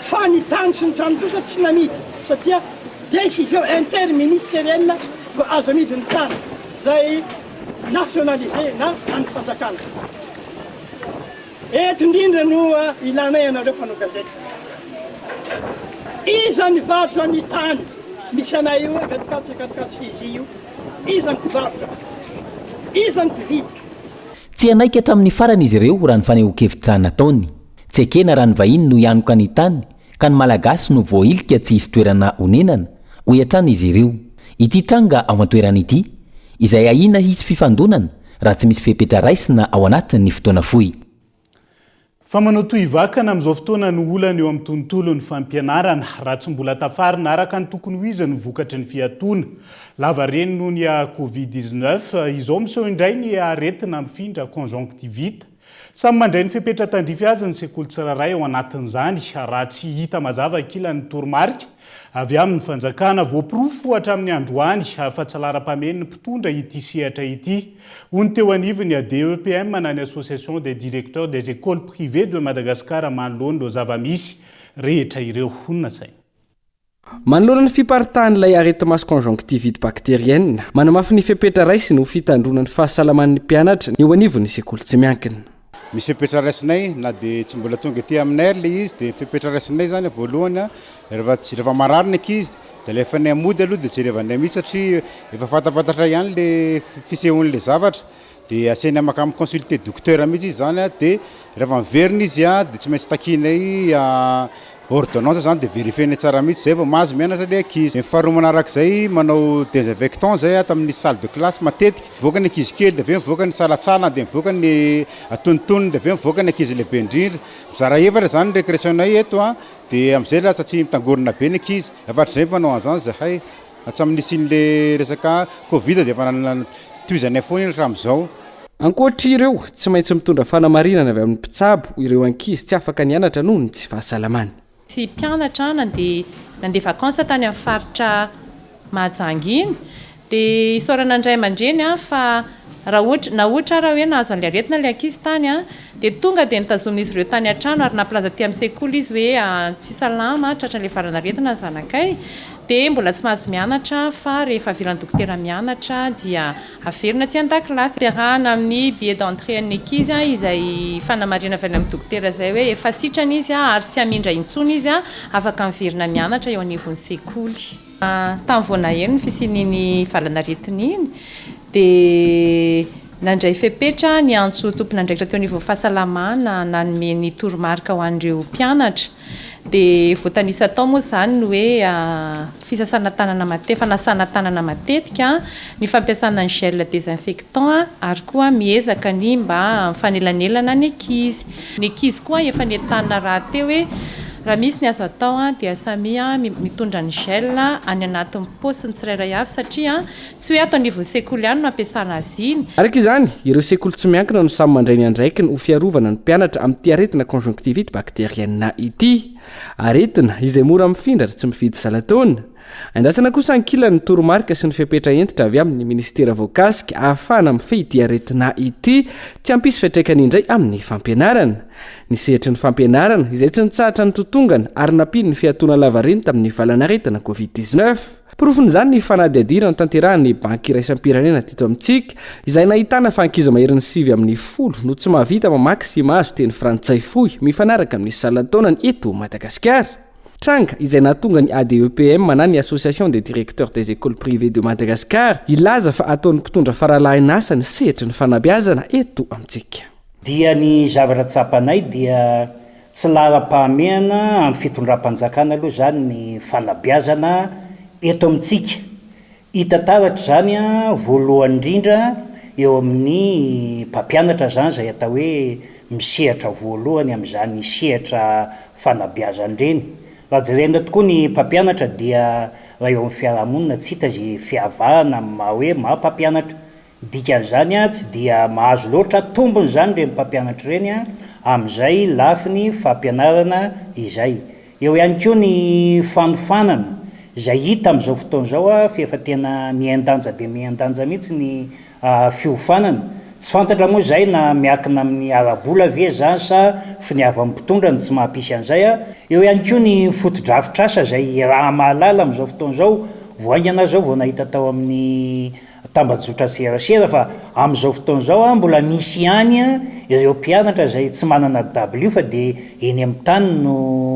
Fa ny tany sy ny trano kosa tsy namidy satria décision interministérielle vao azo amidy ny tany zay nationalisé na an'ny fanjakana. Eto indrindra no ilanay anareo mpanao gazety. Iza nivarotra ny tany misy anay io hoe Vetikatsy Akatikatsy Hizy io? Iza ny mpivarotra? Iza ny mpividy? Tsy hanaiky hatramin'ny farany izy ireo raha ny fanehoan-kevitra nataony. Tsy ekena raha ny vahiny no hianoka ny tany ka ny Malagasy no voahilika tsy hisy toerana honenana, hoy hatrany izy ireo. Ity tranga ao an-toerana ity, izay ahiana hisy fifandonana raha tsy misy fepetra raisina ao anatin'ny fotoana fohy. Fa manao toy vakana amin'izao fotoana no olana eo amin'ny tontolon'ny fampianarana, raha tsy mbola tafarina araka ny tokony ho izy ny vokatry ny fiatoana. Lava reny noho ny Covid dix-neuf, izao miseho indray ny aretina mifindra, conjonctivite. Samy mandray ny fepetra tandrify azy ny sekoly tsirairay ao anatin'izany, raha tsy hita mazava ankilany ny toromarika, Avy amin'ny fanjakana, voaporofo hatramin'ny androany fa tsy laharam-pahamehiny ny mpitondra ity sehatra ity. Hoy ny teo anivon'ny ADEPM na ny Association des Directeurs des Ecoles Privées de Madagascar manoloana ireo zava-misy rehetra ireo. Hoy ny nasainy. Manoloana ny fiparitahan'ilay areti-maso conjonctivite bactérienne, manamafy ny fepetra raisiny ho fitandroana ny fahasalaman'ny mpianatra ny eo anivon'ny sekoly tsy miankina. Misy fepetra raisinay na dia tsy mbola tonga ety aminay ary ilay izy dia ny fepetra raisinay izany voalohany rehefa tsy rehefa marary ny ankizy dia alefanay mody aloha dia jerevanay mihitsy satria efa fantapantatray ihany ilay fisehon'ilay zavatra dia asainay maka mi-consulter docteur mihitsy izy izany dia rehefa miverina izy dia tsy maintsy takianay Ordonnance zany dia verifier-ny tsara mihitsy zay vao mahazo mianatra le ankizy. Ny faharoa manaraka izay manao desinfectant zay ato amin'ny salle de classe matetika. Mivoaka ny ankizy kely dia avy eo mivoaka ny tsalatsala dia mivoaka ny antonontonony dia avy eo mivoaka ny ankizy lehibe indrindra. Mizara efatra zany ny récréation-nay eto dia amin'izay lasa tsy mitangorona be ny ankizy. Afatr'izay manao an'izany zahay. Hatramin'ny nisian'ilay resaka covid dia efa nanana tohizanay foana iny hatramin'izao. Ankoatr'ireo, tsy maintsy mitondra fanamarinana avy amin'ny mpitsabo ireo ankizy tsy afaka nianatra noho ny tsy fahasalamany. Ity mpianatra nandeha nandeha vacances tany amin'ny faritra Mahajanga iny dia isaorana ny ray aman-dreny fa raha ohatra na ohatra ary hoe nahazo an'ilay aretina ilay ankizy tany dia tonga dia notazomin'izy ireo tany an-trano ary nampilaza aty amin'ny sekoly izy hoe tsy salama tratran'ilay valan'aretina ny zanakay dia mbola tsy mahazo mianatra fa rehefa avela ny dokotera mianatra dia averina aty an-dakilasy. Ampiarahana amin'ny billet d'entrée an'ny ankizy izay fanamarihana avy any amin'ny dokotera izay hoe efa sitrana izy ary tsy hamindra intsony izy, afaka miverina mianatra eo anivon'ny sekoly. Tamin'ny vao naheno ny fisian'iny valan'aretina iny dia nandray fepetra niantso tompon'andraikitra teo anivon'ny fahasalamana nanome ny toromarika ho an'ireo mpianatra. Dia voatanisa tao moa izany ny hoe fisasana tanana mate, fanasana tanana matetika, ny fampiasana ny gel désinfectant ary koa miezaka ny mba mifanelanelana ny ankizy. Ny ankizy koa efa nentanina rahateo hoe raha misy ny azo atao dia samia mitondra ny gel any anatin'ny paosiny tsirairay avy satria Tsy hoe ato anivon'ny sekoly ihany no ampiasana azy iny. Araka izany, ireo sekoly tsy miankina no samy mandray ny andraikiny ho fiarovana ny mpianatra amin'ity aretina conjonctivite bactérienne ity. Aretina, izay mora mifindra ary tsy mifidy zalataona. Andrasana kosa ankilany ny toromarika sy ny fepetra hentitra avy amin'ny minisitera voakasika ahafahana mifehy ity aretina ity tsy hampisy fiantraikany indray amin'ny fampianarana. Ny sehatry ny fampianarana, izay tsy nitsahatra nitotongana ary nampiany ny fiatoana lavareny tamin'ny valan'aretina covid dix-neuf. Porofon'izany ny fanadihadiana notanterahin'ny Banky Iraisam-pirenena teto amintsika, izay nahitana fa ankizy maherin'ny sivy amin'ny folo no tsy mahavita mamaky sy mahazo teny frantsay fohy mifanaraka amin'ny salan-taonany eto Madagasikara, tranga izay nahatonga ny ADEPM na ny Association des Directeurs des Ecoles Privées de Madagascar hilaza fa ataon'ny mpitondra faralahin'asa ny sehatry ny fanabeazana eto amintsika. Dia ny zavatra tsapanay dia tsy laharam-pahamehana amin'ny fitondram-panjakana aloha izany ny fanabeazana eto amintsika. Hita taratra izany voalohany indrindra eo amin'ny mpampianatra izany izay atao hoe misehatra voalohany amin'izany sehatra fanabeazana ireny. Raha jerena tokoa ny mpampianatra dia raha eo amin'ny fiarahamonina tsy hita izay fiavahana amin'ny maha hoe maha mpampianatra. Dikan'izany tsy dia mahazo loatra tombony izany ireny mpampianatra ireny amin'izay lafiny fampianarana izay. Eo ihany koa ny fanofanana izay hita amin'izao fotoana izao fa efa tena mihen-danja dia mihen-danja mihitsy ny fiofanana. Tsy fantatra moa izay na miankina amin'ny ara-bola ve izany sa finiavan'ny mpitondra no tsy mahampisy an'izay. Eo ihany koa ny fotodrafitrasa izay iaraha-mahalala amin'izao fotoana izao. Vao haingana aho izao vao nahita tao amin'ny. tambajotra serasera fa amin'izao fotoana izao an mbola misy ihany an ireo mpianatra izay tsy manana dabilio fa dia eny amin'ny tany no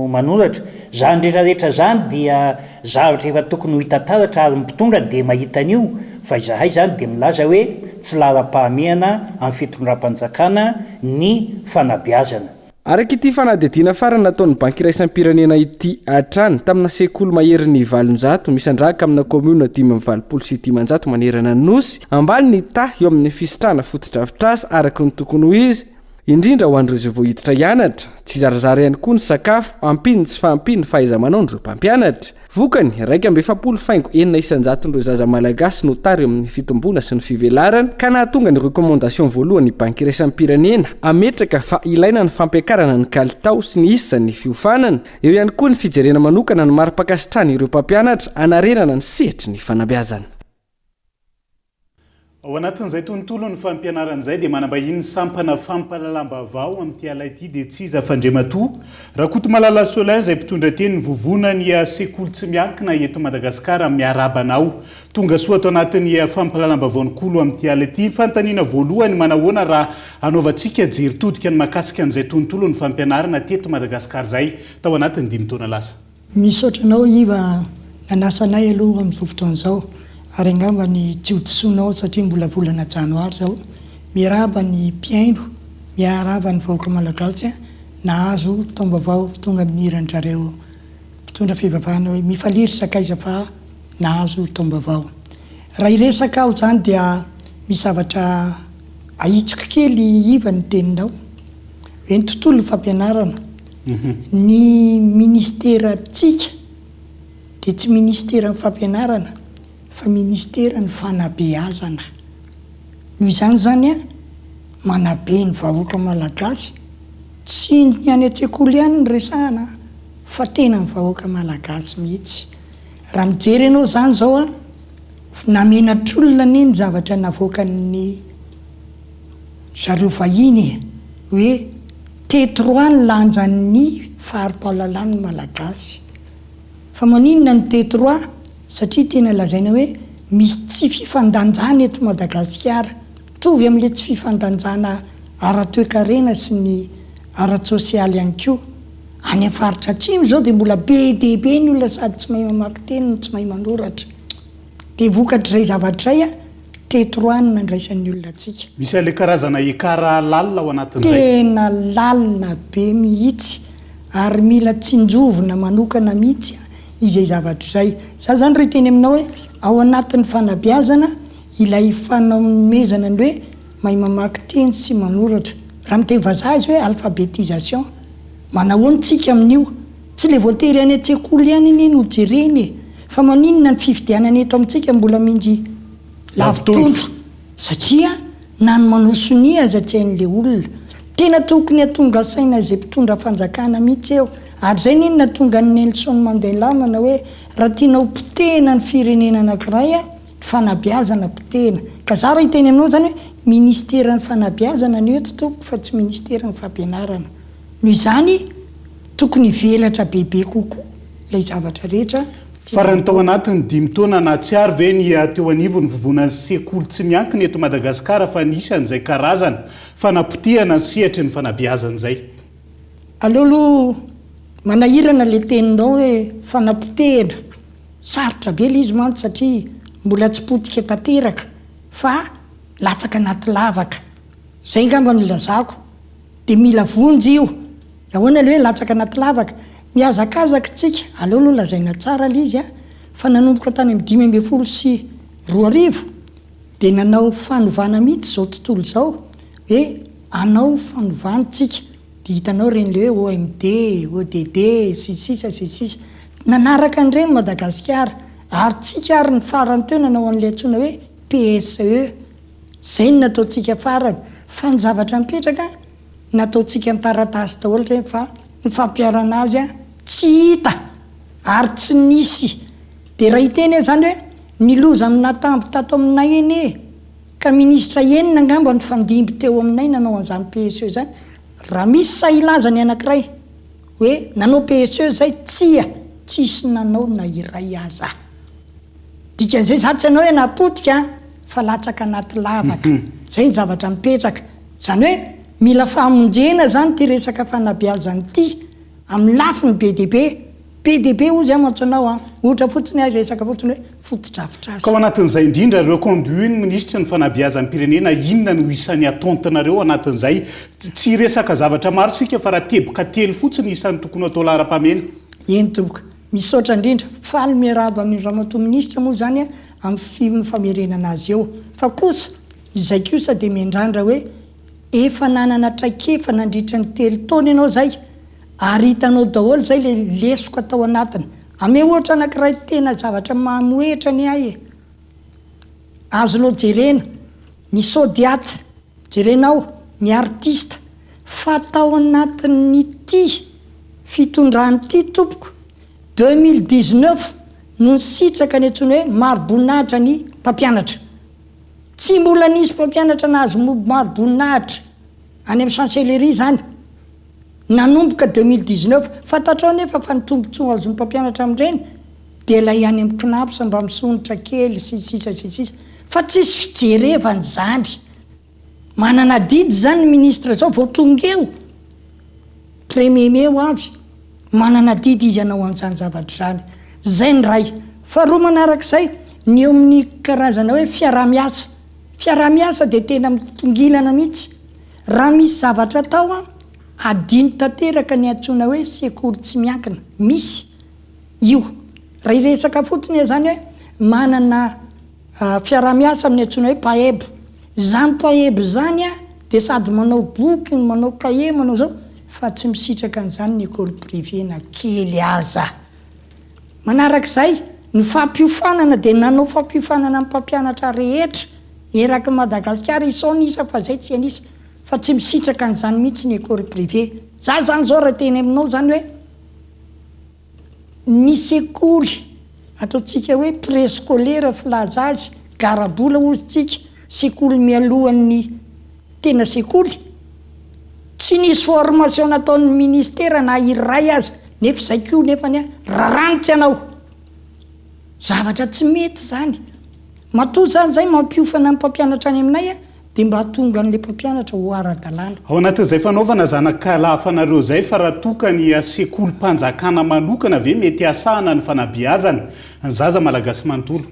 manoratra. Izany rehetra rehetra izany dia zavatra efa tokony ho hita taratra ary ny mpitondra dia mahita an'io fa izahay izany dia milaza hoe tsy laharam-pahamehana amin'ny fitondram-panjakana ny fanabeazana. Araka ity fanadihadiana farany nataon'ny Banky Iraisam-pirenena ity hatrany, tamina sekoly maherin'ny valonjato misandrahaka amina kaomiona dimy amby valopolo sy dimanjato manerana ny Nosy, ambany ny taha eo amin'ny fisitrahana fotodrafitrasa araka ny tokony ho izy, indrindra ho an'ireo izay vao hiditra hianatra, tsy zarazara ihany koa ny sakafo, ampian'ny tsy fahampian'ny fahaiza-manaon'ireo mpampianatra. Vokany, iraika amby efapolo faingo enina isan-jaton'ireo zaza malagasy no tary amin'ny fitomboana sy ny fivelarana, ka nahatonga ny recommandation voalohan'ny Banky iraisam-pirenena hametraka fa ilaina ny fampiakarana ny kalitao sy ny isan'ny fiofanana. Eo ihany koa ny fijerena manokana ny mari-pankasitrahana ireo mpampianatra hanarenana ny sehatry ny fanabeazana. Ao anatin'izay tontolon'ny fampianarana izay dia manambahiny ny sampana fampahalalam-baovao amin'ity ala ity dia tsy iza f'Andriamatoa Rakotomalala Solin izay mpitondra teny ny vovonan'ny sekoly tsy miankina eto Madagasikara. Miarahaba anao tonga soa ato anatin'ny fampahalalam-baovao Nykolo amin'ity ala ity. Fanontaniana voalohany, manahoana raha hanaovantsika jery todika ny mahakasika an'izay tontolon'ny fampianarana teto Madagasikara izay tao anatin'ny dimy taona lasa? Misaotra anao Iva nanasa anay aloha amin'izao fotoana izao ary angamba ny tsy ho disonao satria mbola volana janoary izao. Miarahaba ny mpihaino, miarahaba ny vahoaka malagasy nahazo taom-baovao tonga amin'ny hiran-drareo mpitondra fivavahana hoe mifalia ry sakaiza fa nahazo taom-baovao. Raha hiresaka aho izany dia misy zavatra ahitsiko kely Iva ny teninao hoe ny tontolon'ny fampianarana. Ny ministerantsika dia tsy ministeran'ny fampianarana fa ministeran'ny fanabeazana. Noho izany izany an, manabe ny vahoaka malagasy, tsy ny any an-tsekoly ihany no resahana fa tena ny vahoaka malagasy mihitsy. Raha mijery ianao izany izao an, namenatr'olona anie ny zavatra navoakan'ny. zareo vahiny e! hoe teto roa ny lanjan'ny fari-pahalalan'ny Malagasy. Fa maninona no teto roa? Satria tena lazaina hoe misy tsy fifandanjana eto Madagasikara, mitovy amin'ilay tsy fifandanjana ara-toekarena sy ny ara-tsosialy ihany koa. Any amin'ny faritra atsimo izao dia mbola be dia be ny olona sady tsy mahay mamaky teny no tsy mahay manoratra. Dia vokatr'izay zavatra izay a! Teto roa no nandraisan'ny olona antsika. Misy an'ilay karazana ekara lalina ao anatin'izay. Tena lalina be mihitsy ary mila tsinjovina manokana mihitsy izay zavatra izay. Za zany raha hiteny aminao hoe ao anatin'ny fanabeazana ilay fanomezana ny hoe mahay mamaky teny sy manoratra. Raha miteny vazaha izy hoe alphabetisation. Manahoana tsika amin'io? Tsy le voatery any an-tsekoly ihany anie no jerena e, fa maninona ny fifidianana eto amintsika mbola minjy lavo tondro, satria na ny manao sonia aza tsy hain'le olona. Tena tokony hatonga saina izay mpitondra fanjakana mihitsy eo, ary izay anie no nahatonga an'i Nelson Mandela manao hoe, raha tianao potehina ny firenena anakiray a, ny fanabeazana potehina. Ka za raha hiteny aminao zany hoe, ministeran'ny fanabeazana no eto tompoko fa tsy ministeran'ny fampianarana. Noho izany. Tokony hivelatra bebe kokoa ilay zavatra rehetra. Farany tao anatin'ny dimy taona nahatsiaro ve ny hiaha teo anivon'ny vovonan'ny sekoly tsy miankina eto Madagasikara fa nisy an'izay karazana fanapotehana ny sehatry ny fanabeazana izay? Aleo aloha manahirana ilay teninao hoe fanapotehana, sarotra be ilay izy mantsy satria mbola tsy potika tanteraka fa latsaka anaty lavaka. Izay angamba no ilazako. Dia mila vonjy io. Ahoana ilay hoe latsaka anaty lavaka? Mihazakazaka tsika, aleo aloha lazaina tsara ilay izy fa nanomboka tany amin'ny dimy ambin'ny folo sy roa arivo dia nanao fanovana mihitsy izao tontolo izao hoe hanao fanovana tsika dia hitanao ireny ilay hoe OMD, ODD, sy ny sisa sy ny sisa. Nanaraka an'ireny Madagasikara ary tsika ary ny farany teo nanao an'ilay antsoina hoe PSE. Izay no nataontsika farany fa ny zavatra mipetraka nataontsika an-taratasy daholo ireny fa ny fampiharana azy tsy hita ary tsy nisy dia raha hiteny aho izany hoe ny loza no natamby tato aminay anie ka ministra enina angamba nifandimby teo aminay nanao an'izany PSE izany raha misy sahy hilaza ny anankiray hoe nanao PSE izay, tsia, tsy hisy nanao na iray aza. Dikan'izay izany tsy hanao hoe na potika fa latsaka anaty lavaka. Izay ny zavatra mipetraka. Izany hoe mila famonjena izany ity resaka fanabeazana ity amin'ny lafiny be dia be. Be dia be hoy izay mantsy anao an! Ohatra fotsiny ary resaka fotsiny hoe fotodrafitrasa. Ka ao anatin'izay indrindra reconduit ny minisitry ny fanabeazam-pirenena inona no isan'ny ataontinareo ao anatin'izay? Tsy hiresaka zavatra maro isika fa raha teboka telo fotsiny isan'ny tokony ho atao laharam-pahamehana. Eny tompoko. Misaotra indrindra. Faly miarahaba amin'i Ramatoa Minisitra moa izany amin'ny famerenana azy eo. Fa kosa, izay kosa dia miandrandra hoe efa nanana traikefa nandritra ny telo taona ianao izay ary hitanao daholo izay ilay lesoka tao anatiny. Ameo ohatra anankiray tena zavatra mamohehitra anie ahy e! Azonao jerena ny Sodiat, jerenao ny Artista fa tao anatin'ity fitondrana ity tompoko, deux mille dix-neuf no nisitraka ny antsoina hoe mariboninahitra ny mpampianatra. Tsy mbola nisy mpampianatra nahazo mariboninahitra any amin'ny Chancellerie izany. nanomboka deux mille dix neuf. Fantatrao anefa fa ny tombontsoa azon'ny mpampianatra amin'ireny dia ilay any amin'ny Cnaps mba misondrotra kely sy ny sisa sy ny sisa fa tsisy fijerevana izany. Manana adidy izany ny ministre izao vao tonga eo premier mai ho avy. Manana adidy izy hanao an'izany zavatra izany. Izay ny iray. Faharoa manaraka izay, ny eo amin'ny karazana hoe fiaraha-miasa. Fiaraha-miasa dia tena mitongilana mihitsy. Raha misy zavatra atao an, adino tanteraka ny antsoina hoe sekoly tsy miankina. Misy io. Raha hiresaka fotsiny aho izany hoe manana fiaraha-miasa amin'ny antsoina hoe PAEB. Izany PAEB izany an, dia sady manao boky no manao kahie, manao izao, fa tsy misitraka an'izany ny école privée na kely aza. Manarak'izay, ny fampiofanana dia nanao fampiofanana ny mpampianatra rehetra eraky Madagasikara isaony isa fa izay tsy an'isa fa tsy misitraka an'izany mihitsy ny école privée. Za zany zao raha teny aminao zany hoe ny sekoly ataontsika hoe préscolaire filaza azy, garabola ozy tsika, sekoly mialohan'ny Tena sekoly? Tsy nisy formation nataon'ny ministera na iray aza nefa izay koa nefany a raranitsy anao. Zavatra tsy mety izany. Matoa izany izay mampiofana ny mpampianatra any aminay a dia mba atonga an'ilay mpampianatra ho ara-dalàna. Ao anatin'izay fanaovana zanakalafanareo izay fa raha toa ka ny sekolim-panjakana manokana ve mety hasahana ny fanabeazana ny zaza malagasy manontolo?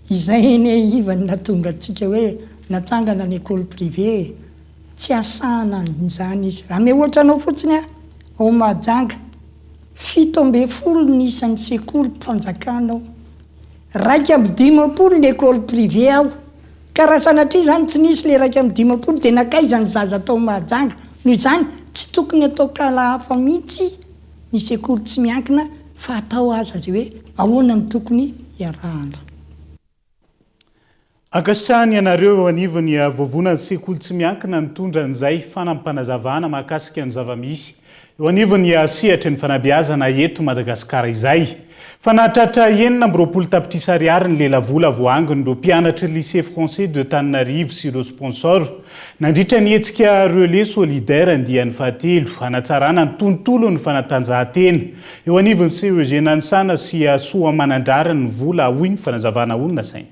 Izay anie ivan natonga antsika hoe Natsangana ny école privé tsy asahana an'izany izy. Raha mihoatra anao fotsiny aho ao Mahajanga, fito ambin'ny folo ny isan'ny sekolim-panjakana ao. Iraika amby dimampolo ny école privé ao. Ka raha sanatria izany tsy nisy ilay iraika amby dimampolo dia nankaiza ny zaza tao Mahajanga? Noho izany, tsy tokony atao kala hafa mihitsy ny sekoly tsy miankina fa atao aza izay hoe ahoana no tokony iarahana. Ankasitrahany ianareo eo anivon'ny Vovonan'ny Sekoly Tsy Miankina nitondra an'izay fanampanazavana mahakasika ny zava-misy eo anivon'ny sehatry ny fanabeazana eto Madagasikara izay. Fa nahatratra enina amby roapolo tapitrisa ariary ny lelavola voaangon'ireo mpianatry Lycée Français de Tananarive sy ireo sponsor nandritra ny hetsika Relais Solidaire andiany fahatelo hanatsarana ny tontolon'ny fanatanjahantena Eo anivon'ny CEG Nanisana sy Soamanandrariny ny vola, hoy ny fanazavana ho nasaina.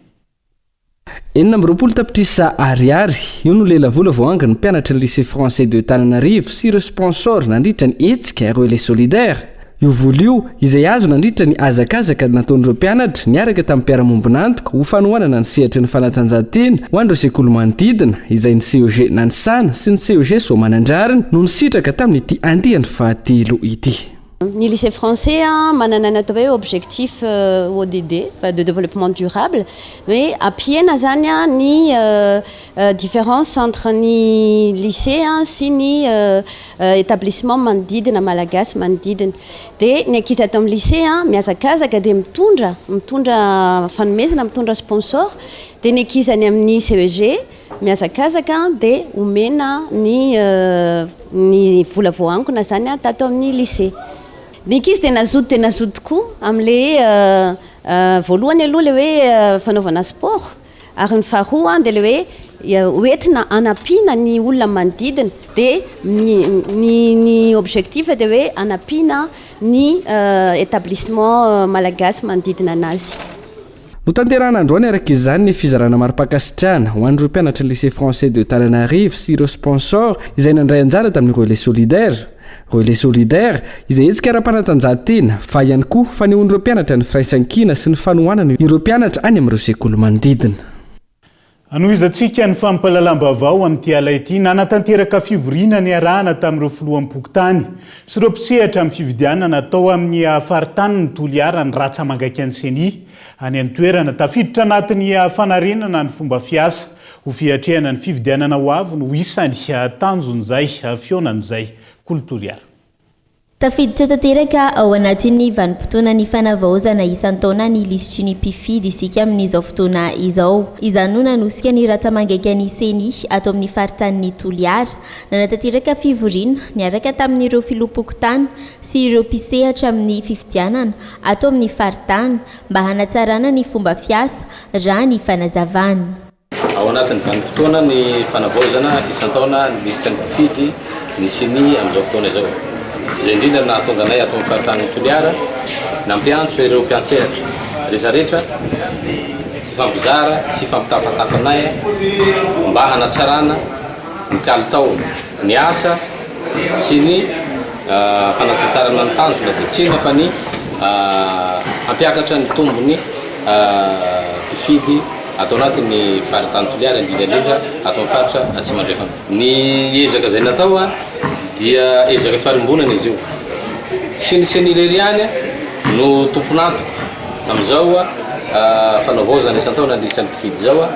Enina amby roapolo tapitrisa Ariary, io no lelavola voahangin'ny mpianatry ny Lycée Français de Tananarive sy ireo sponsors nandritra ny hetsika Relais Solidaire. Io vola io, izay azo nandritra ny hazakazaka nataon'ireo mpianatra niaraka tamin'ny mpiara-mombon'antoka ho fanohanana ny sehatry ny fanatanjahantena ho an'ireo sekoly manodidina, izay ny CEG Nanisana sy ny CEG Soamanandrariny no nisitraka tamin'ity andiany fahatelo ity. Ny Lycée Français a, manana ny atao hoe objectif ODD, va de développement durable, hoe ampihena zany a ny difference entre ny lycée a sy ny établissement manodidina, malagasy manodidina. Dia ny ankizy ato amin'ny lycée a, mihazakazaka dia mitondra, mitondra fanomezana, mitondra sponsor, dia ny ankizy any amin'ny CEG, Mihazakazaka dia omena ny ny vola voaangona izany tato amin'ny lycée. Ny ankizy dia nazoto dia nazoto tokoa amin'ilay voalohany aloha ilay hoe fanaovana sport ary ny faharoa dia ilay hoe hoentina hanampiana ny olona manodidina dia ny ny ny objectif dia hoe hanampiana ny établissement malagasy manodidina an'azy. Notanterahina androany araka izany ny fizarana mari-pankasitrahana ho an'ireo mpianatry ny Lycée Français de Tananarive sy ireo sponsors izay nandray anjara tamin'ny Relais Solidaire. Relais Solidaire, izay hetsika ara-panatanjahantena, fa ihany koa fanehoan'ireo mpianatra ny firaisankina sy ny fanohanana ireo mpianatra any amin'ireo sekoly manodidina. Hanohizantsika ny fampahalalam-baovao amin'ity ala ity, nanatanteraka fivoriana niarahana tamin'ireo filoham-pokontany sy ireo mpisehatra amin'ny fifidianana atao amin'ny faritany ny Toliara ny Ratsamangaikan'ny Ceni any an-toerana. Tafiditra anatin'ny fanarenana ny fomba fiasa ho fiatrehana ny fifidianana ho avy no isan'ny tanjon'izay fihaonana izay, Kolo Toliara. Tafiditra tanteraka ao anatin'ny vanim-potoana ny fanavaozana isan-taona ny lisitry ny mpifidy isika amin'izao fotoana izao. Izany no nanosika ny rantsamangaikan'ny Ceni ato amin'ny faritanin'i Toliara. Nanatanteraka fivoriana niaraka tamin'ireo filoham-pokontany sy ireo mpisehatra amin'ny fifidianana ato amin'ny faritany mba hanatsarana ny fomba fiasa, raha ny fanazavany. Ao anatin'ny vanim-potoana ny fanavaozana isan-taona ny lisitra ny mpifidy ny ceni amin'izao fotoana izao. Izay indrindra no nahatonga anay ato amin'ny faritanin'i Toliara nampiantso ireo mpiantsehatra rehetrarehetra hifampizara sy hifampitafatafa anay mba hanatsarana ny kalitao ny asa sy ny fanatsatsarana ny tanjona dia tsy inona fa ny hampiakatra ny tombony mpifidy ato anatin'ny faritany Toliara indrindra indrindra ato amin'ny faritra Atsimo Andrefana. Ny ezaka izay natao dia ezaka farimbonana izy io. Tsy ny ceni irery ihany no tompon'antoka amin'izao fanaovaozana isan-taona ny lisitry ny mpifidy izao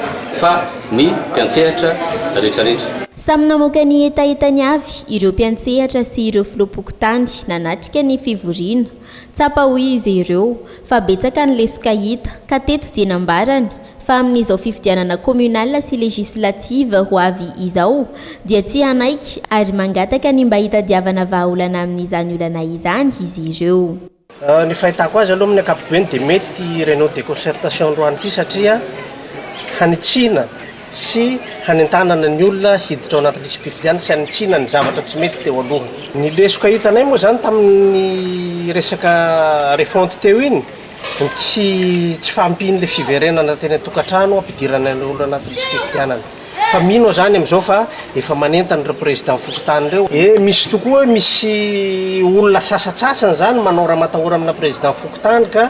fa ny mpiantsehatra rehetrarehetra. Samy namoaka ny hetahetany avy ireo mpiantsehatra sy ireo filoham-pokontany nanatrika ny fivoriana. Tsapa hoy izy ireo fa betsaka ny lesoka hita, ka teto dia nambarany fa amin'izao fifidianana communal sy législative ho avy izao dia tsy hanaiky ary mangataka ny mba hitadiavana vahaolana amin'izany olana izany izy ireo. Ny fahitako azy aloha amin'ny ankapobeny dia mety ity réunion de concertation androany ity satria hanitsiana sy hanentanana ny olona hiditra ao anaty lisi-pifidianana sy hanitsiana ny zavatra tsy mety teo aloha. Ny lesoka hitanay moa izany tamin'ny resaka refonte teo iny, ny tsy tsy fahampian'ilay fiverenana teny an-tokantrano hampidirana ireo olona anaty lisi-pifidianana. Fa mino aho izany amin'izao fa efa manentana ireo président fokontany ireo. Eny, misy tokoa, misy olona sasantsasany izany manao ramatahora amina président fokontany ka.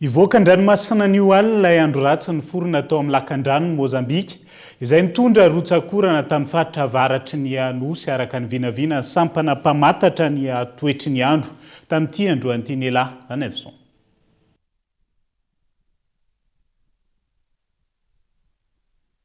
Hivoaka an-dranomasina anio alina ilay andro ratsy niforona tao amin'ny lakandranon'i Mozambika, izay nitondra rotsak'orana tamin'ny faritra avaratry ny Nosy, araka ny vinavinan'ny sampana mpamantatra ny toetry ny andro, tamin'ity androany ity. Nela Anevison.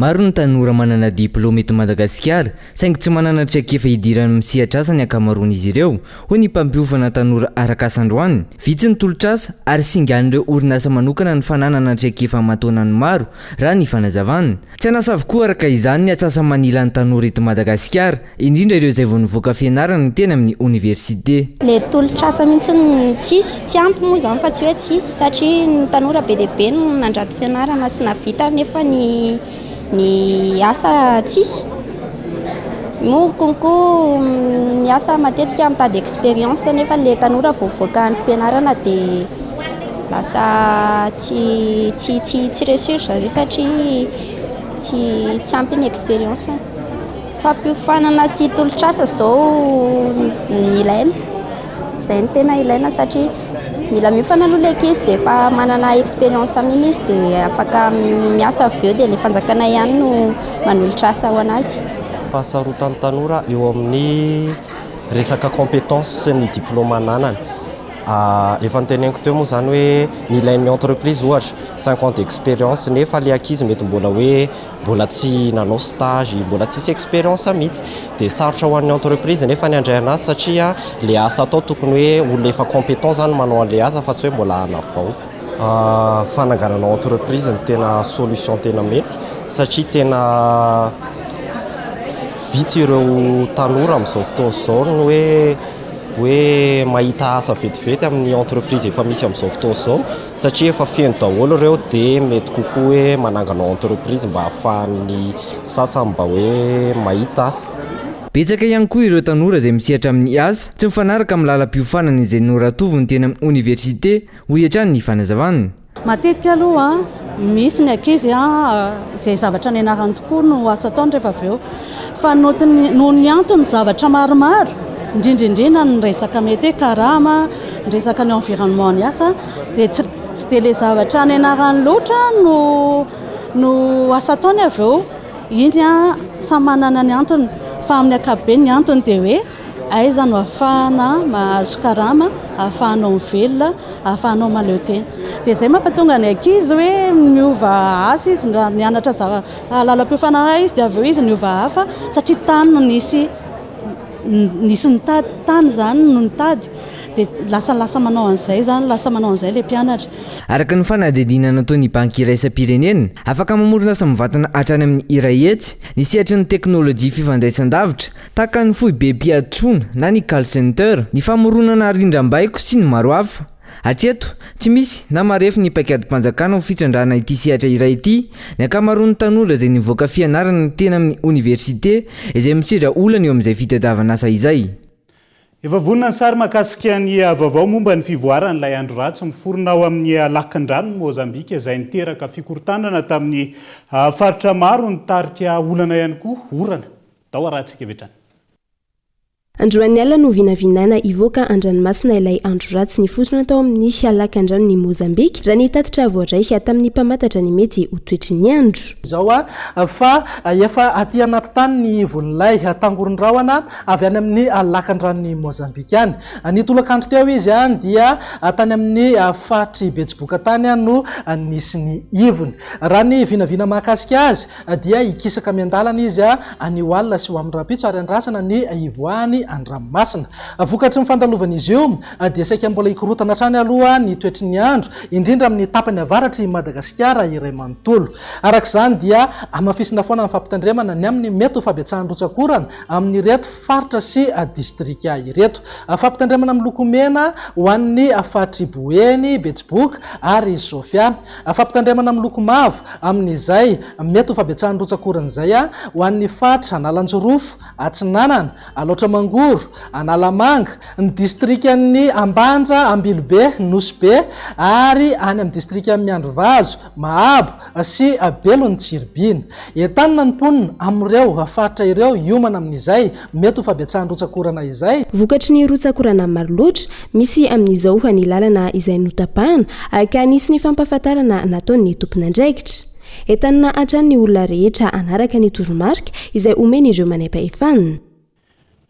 Maro ny tanora manana diplaoma eto Madagasikara saingy tsy manana traikefa hidirany amin'ny sehatr'asa ny ankamaroan'izy ireo, hoy ny mpampiofana tanora arak'asa androany. Vitsy ny tolotr'asa ary singan'ireo orinasa manokana ny fananana traikefa aman-taonany ny maro, raha ny fanazavana. Tsy an'asa avokoa araka izany ny atsasa-manilan'ny tanora eto Madagasikara. indrindra ireo izay vao nivoaka fianarana ny teny amin'ny oniversite. Ilay tolotr'asa mihitsy no tsisy, tsy ampy moa izany fa tsy hoe tsisy satria ny tanora be dia be no nandrato fianarana sy nahavita nefa ny ny asa tsisy. Moa konkoa ny asa matetika mitady expérience nefa ilay tanora vao mivoaka ny fianarana dia lasa tsy tsy tsy tsy resurge satria tsy tsy ampy ny expérience-ny. Fampiofanana sy tolotr'asa izao no ilaina, izay no tena ilaina satria mila miofana aloha ilay ankizy dia efa manana expérience amin'iny izy dia afaka miasa avy eo dia ilay fanjakana ihany no manolotra asa ho an'azy. Fahasarotan'ny tanora eo amin'ny resaka compétence sy ny diplôme ananany. Efa noteneniko teo moa izany hoe ny ilain'ny entreprise ohatra cinq ans d'expérience nefa ilay ankizy mety mbola hoe mbola tsy nanao stage, mbola tsisy expérience mihitsy dia sarotra ho an'ny entreprise nefa ny handray anazy satria ilay asa atao tokony hoe olona efa compétent izany manao an'ilay asa fa tsy hoe mbola hanavao. Fananganana entreprise no tena solution tena mety satria tena vitsy ireo tanora amin'izao fotoana izao no hoe hoe mahita asa vetivety amin'ny entreprise efa misy amin'izao fotoana izao satria efa feno daholo ireo dia mety kokoa hoe manangana entreprise mba ahafahan'ny sasany mba hoe mahita asa. Betsaka ihany koa ireo tanora izay misehatra amin'ny asa tsy mifanaraka amin'ny lalam-piofanana izay noratoviny teny amin'ny oniversite, hoy hatrany ny fanazavany. Matetika aloha misy ny ankizy izay zavatra nianarany tokoa no asa ataony rehefa avy eo Fa noho ny antony zavatra maromaro, indrindra indrindra ny resaka mety hoe karama, ny resaka ny environnement ny asa dia tsy tsy dia ilay zavatra any anarany loatra no no asa ataony avy eo iny a samy manana ny antony fa amin'ny ankapobeny ny antony dia hoe aiza no afahana mahazo karama afahanao mivelona afahanao mahaleo tena dia izay mampatonga ny ankizy hoe miova asa izy raha mianatra zava Ary lalam-piofana iray izy, dia avy eo izy niova hafa, satria tany no nisy nisy nitady, tany izany no nitady. Dia lasa lasa manao an'izay izany, lasa manao an'izay ilay mpianatra. Araka ny fanadihadiana nataon'ny Banky Iraisam-pirenena, afaka mamorona asa mivantana hatrany amin'ny iray hetsy ny sehatry ny teknolojia fifandraisan-davitra, tahaka ny foibem-piatoana na ny call center, ny famoronana rindrambaiko sy ny maro hafa. Hatreto, tsy misy na marefo ny paikadim-panjakana ho fitrandrahana ity sehatra iray ity. Ny ankamaroan'ny tanora izay nivoaka fianarana teny amin'ny oniversite izay misedra olana eo amin'izay fitadiavan'asa izay. Efa vonona ny sary mahakasika ny vaovao momba ny fivoaran'ilay andro ratsy miforona ao amin'ny lakindranon'i Mozambika izay niteraka fikorontanana tamin'ny faritra maro nitarika olana ihany koa orana. Tao ara-tsikevitrany. Androany alina no vinavinaina hivoaka an-dranomasina ilay andro ratsy nifotona tao amin'ny halakandranon'i Mozambika, raha ny tatitra voaray tamin'ny mpamantatra ny mety ho toetry ny andro. izao fa efa aty anaty tany ny ivon'ilay tangoron-drahona avy any amin'ny lakandranon'i Mozambika any. Ny tolakandro teo izy dia tany amin'ny faritr'i Betsiboka tany no nisy ny ivony. Raha ny vinavina mahakasika azy Dia hikisaka miandalana izy anio alina sy ho amin'ny rahampitso ary handrasana ny hivoahany an-dranomasina. Vokatry ny fandalovan'izy io dia saika mbola hikorontana hatrany aloha ny toetry ny andro, indrindra amin'ny tapany avaratr'i Madagasikara iray manontolo. Araka izany dia hamafisina foana ny fampitandremana ny amin'ny mety ho fabetsahan'ny rotsak'orana amin'ireto faritra sy distrika ireto. Fampitandremana miloko mena ho an'ny faritr'i Boeny, Betsiboka ary Sofia. Fampitandremana miloko mavo amin'izay mety ho fabetsahan'ny rotsakoron'izay ho an'ny faritra Analanjirofo Atsinanana, Alaotra Mangoro, Analamanga, ny distrikan'ny Ambanja, Ambilobe, Nosy Be ary any amin'ny distrikan'i Miandrivazo, Mahabo sy Belon'i Tsiribihina. Entanina ny mponina amin'ireo faritra ireo hiomana amin'izay Mety ho fabetsahan'ny rotsak'orana izay. Vokatry ny rotsak'orana maro loatra misy amin'izao ho an'ny lalana izay notapahana ka nisy ny fampahafantarana nataon'ny tompon'andraikitra. Entanina hatrany ny olona rehetra hanaraka ny toromarika izay omen'ireo manaim-pahefana.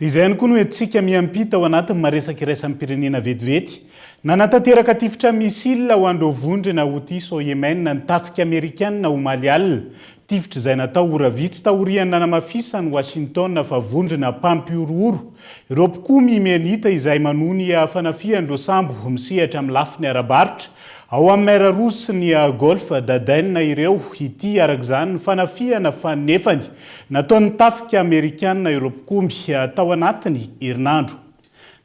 Dia izay ihany koa no entintsika miampita ao anatin'ny maha-resaka iraisam-pirenena vetivety. Nanatanteraka tifitra missile ho an'ireo vondrona Houthi sao Yemen ny tafika amerikanina omaly alina. Tifitra izay natao ora vitsy taorian'ny nanamafisan'i Washington fa vondrona mpampihorohoro ireo mpikomy Ymenita izay manohy ny fanafihan'ireo sambo misehatra amin'ny lafiny ara-barotra ao amin'ny Mer Rouge sy ny Golfe d'Aden ireo ity araka izany ny fanafihana fanefany nataon'ny tafika Amerikana ireo mpikomy tao anatin'ny herinandro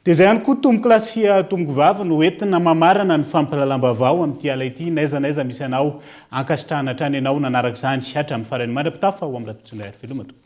Dia izay ihany koa tompoko lahy sy tompoko vavy no entina mamarana ny fampahalalam-baovao amin'ity ala ity n'aiza n'aiza misy anao. Ankasitrahana hatrany ianao nanaraka izany hatramin'ny farany. Mandra-pitafa ho amin'ny lahatokon-tsongahy ary veloma tompoko.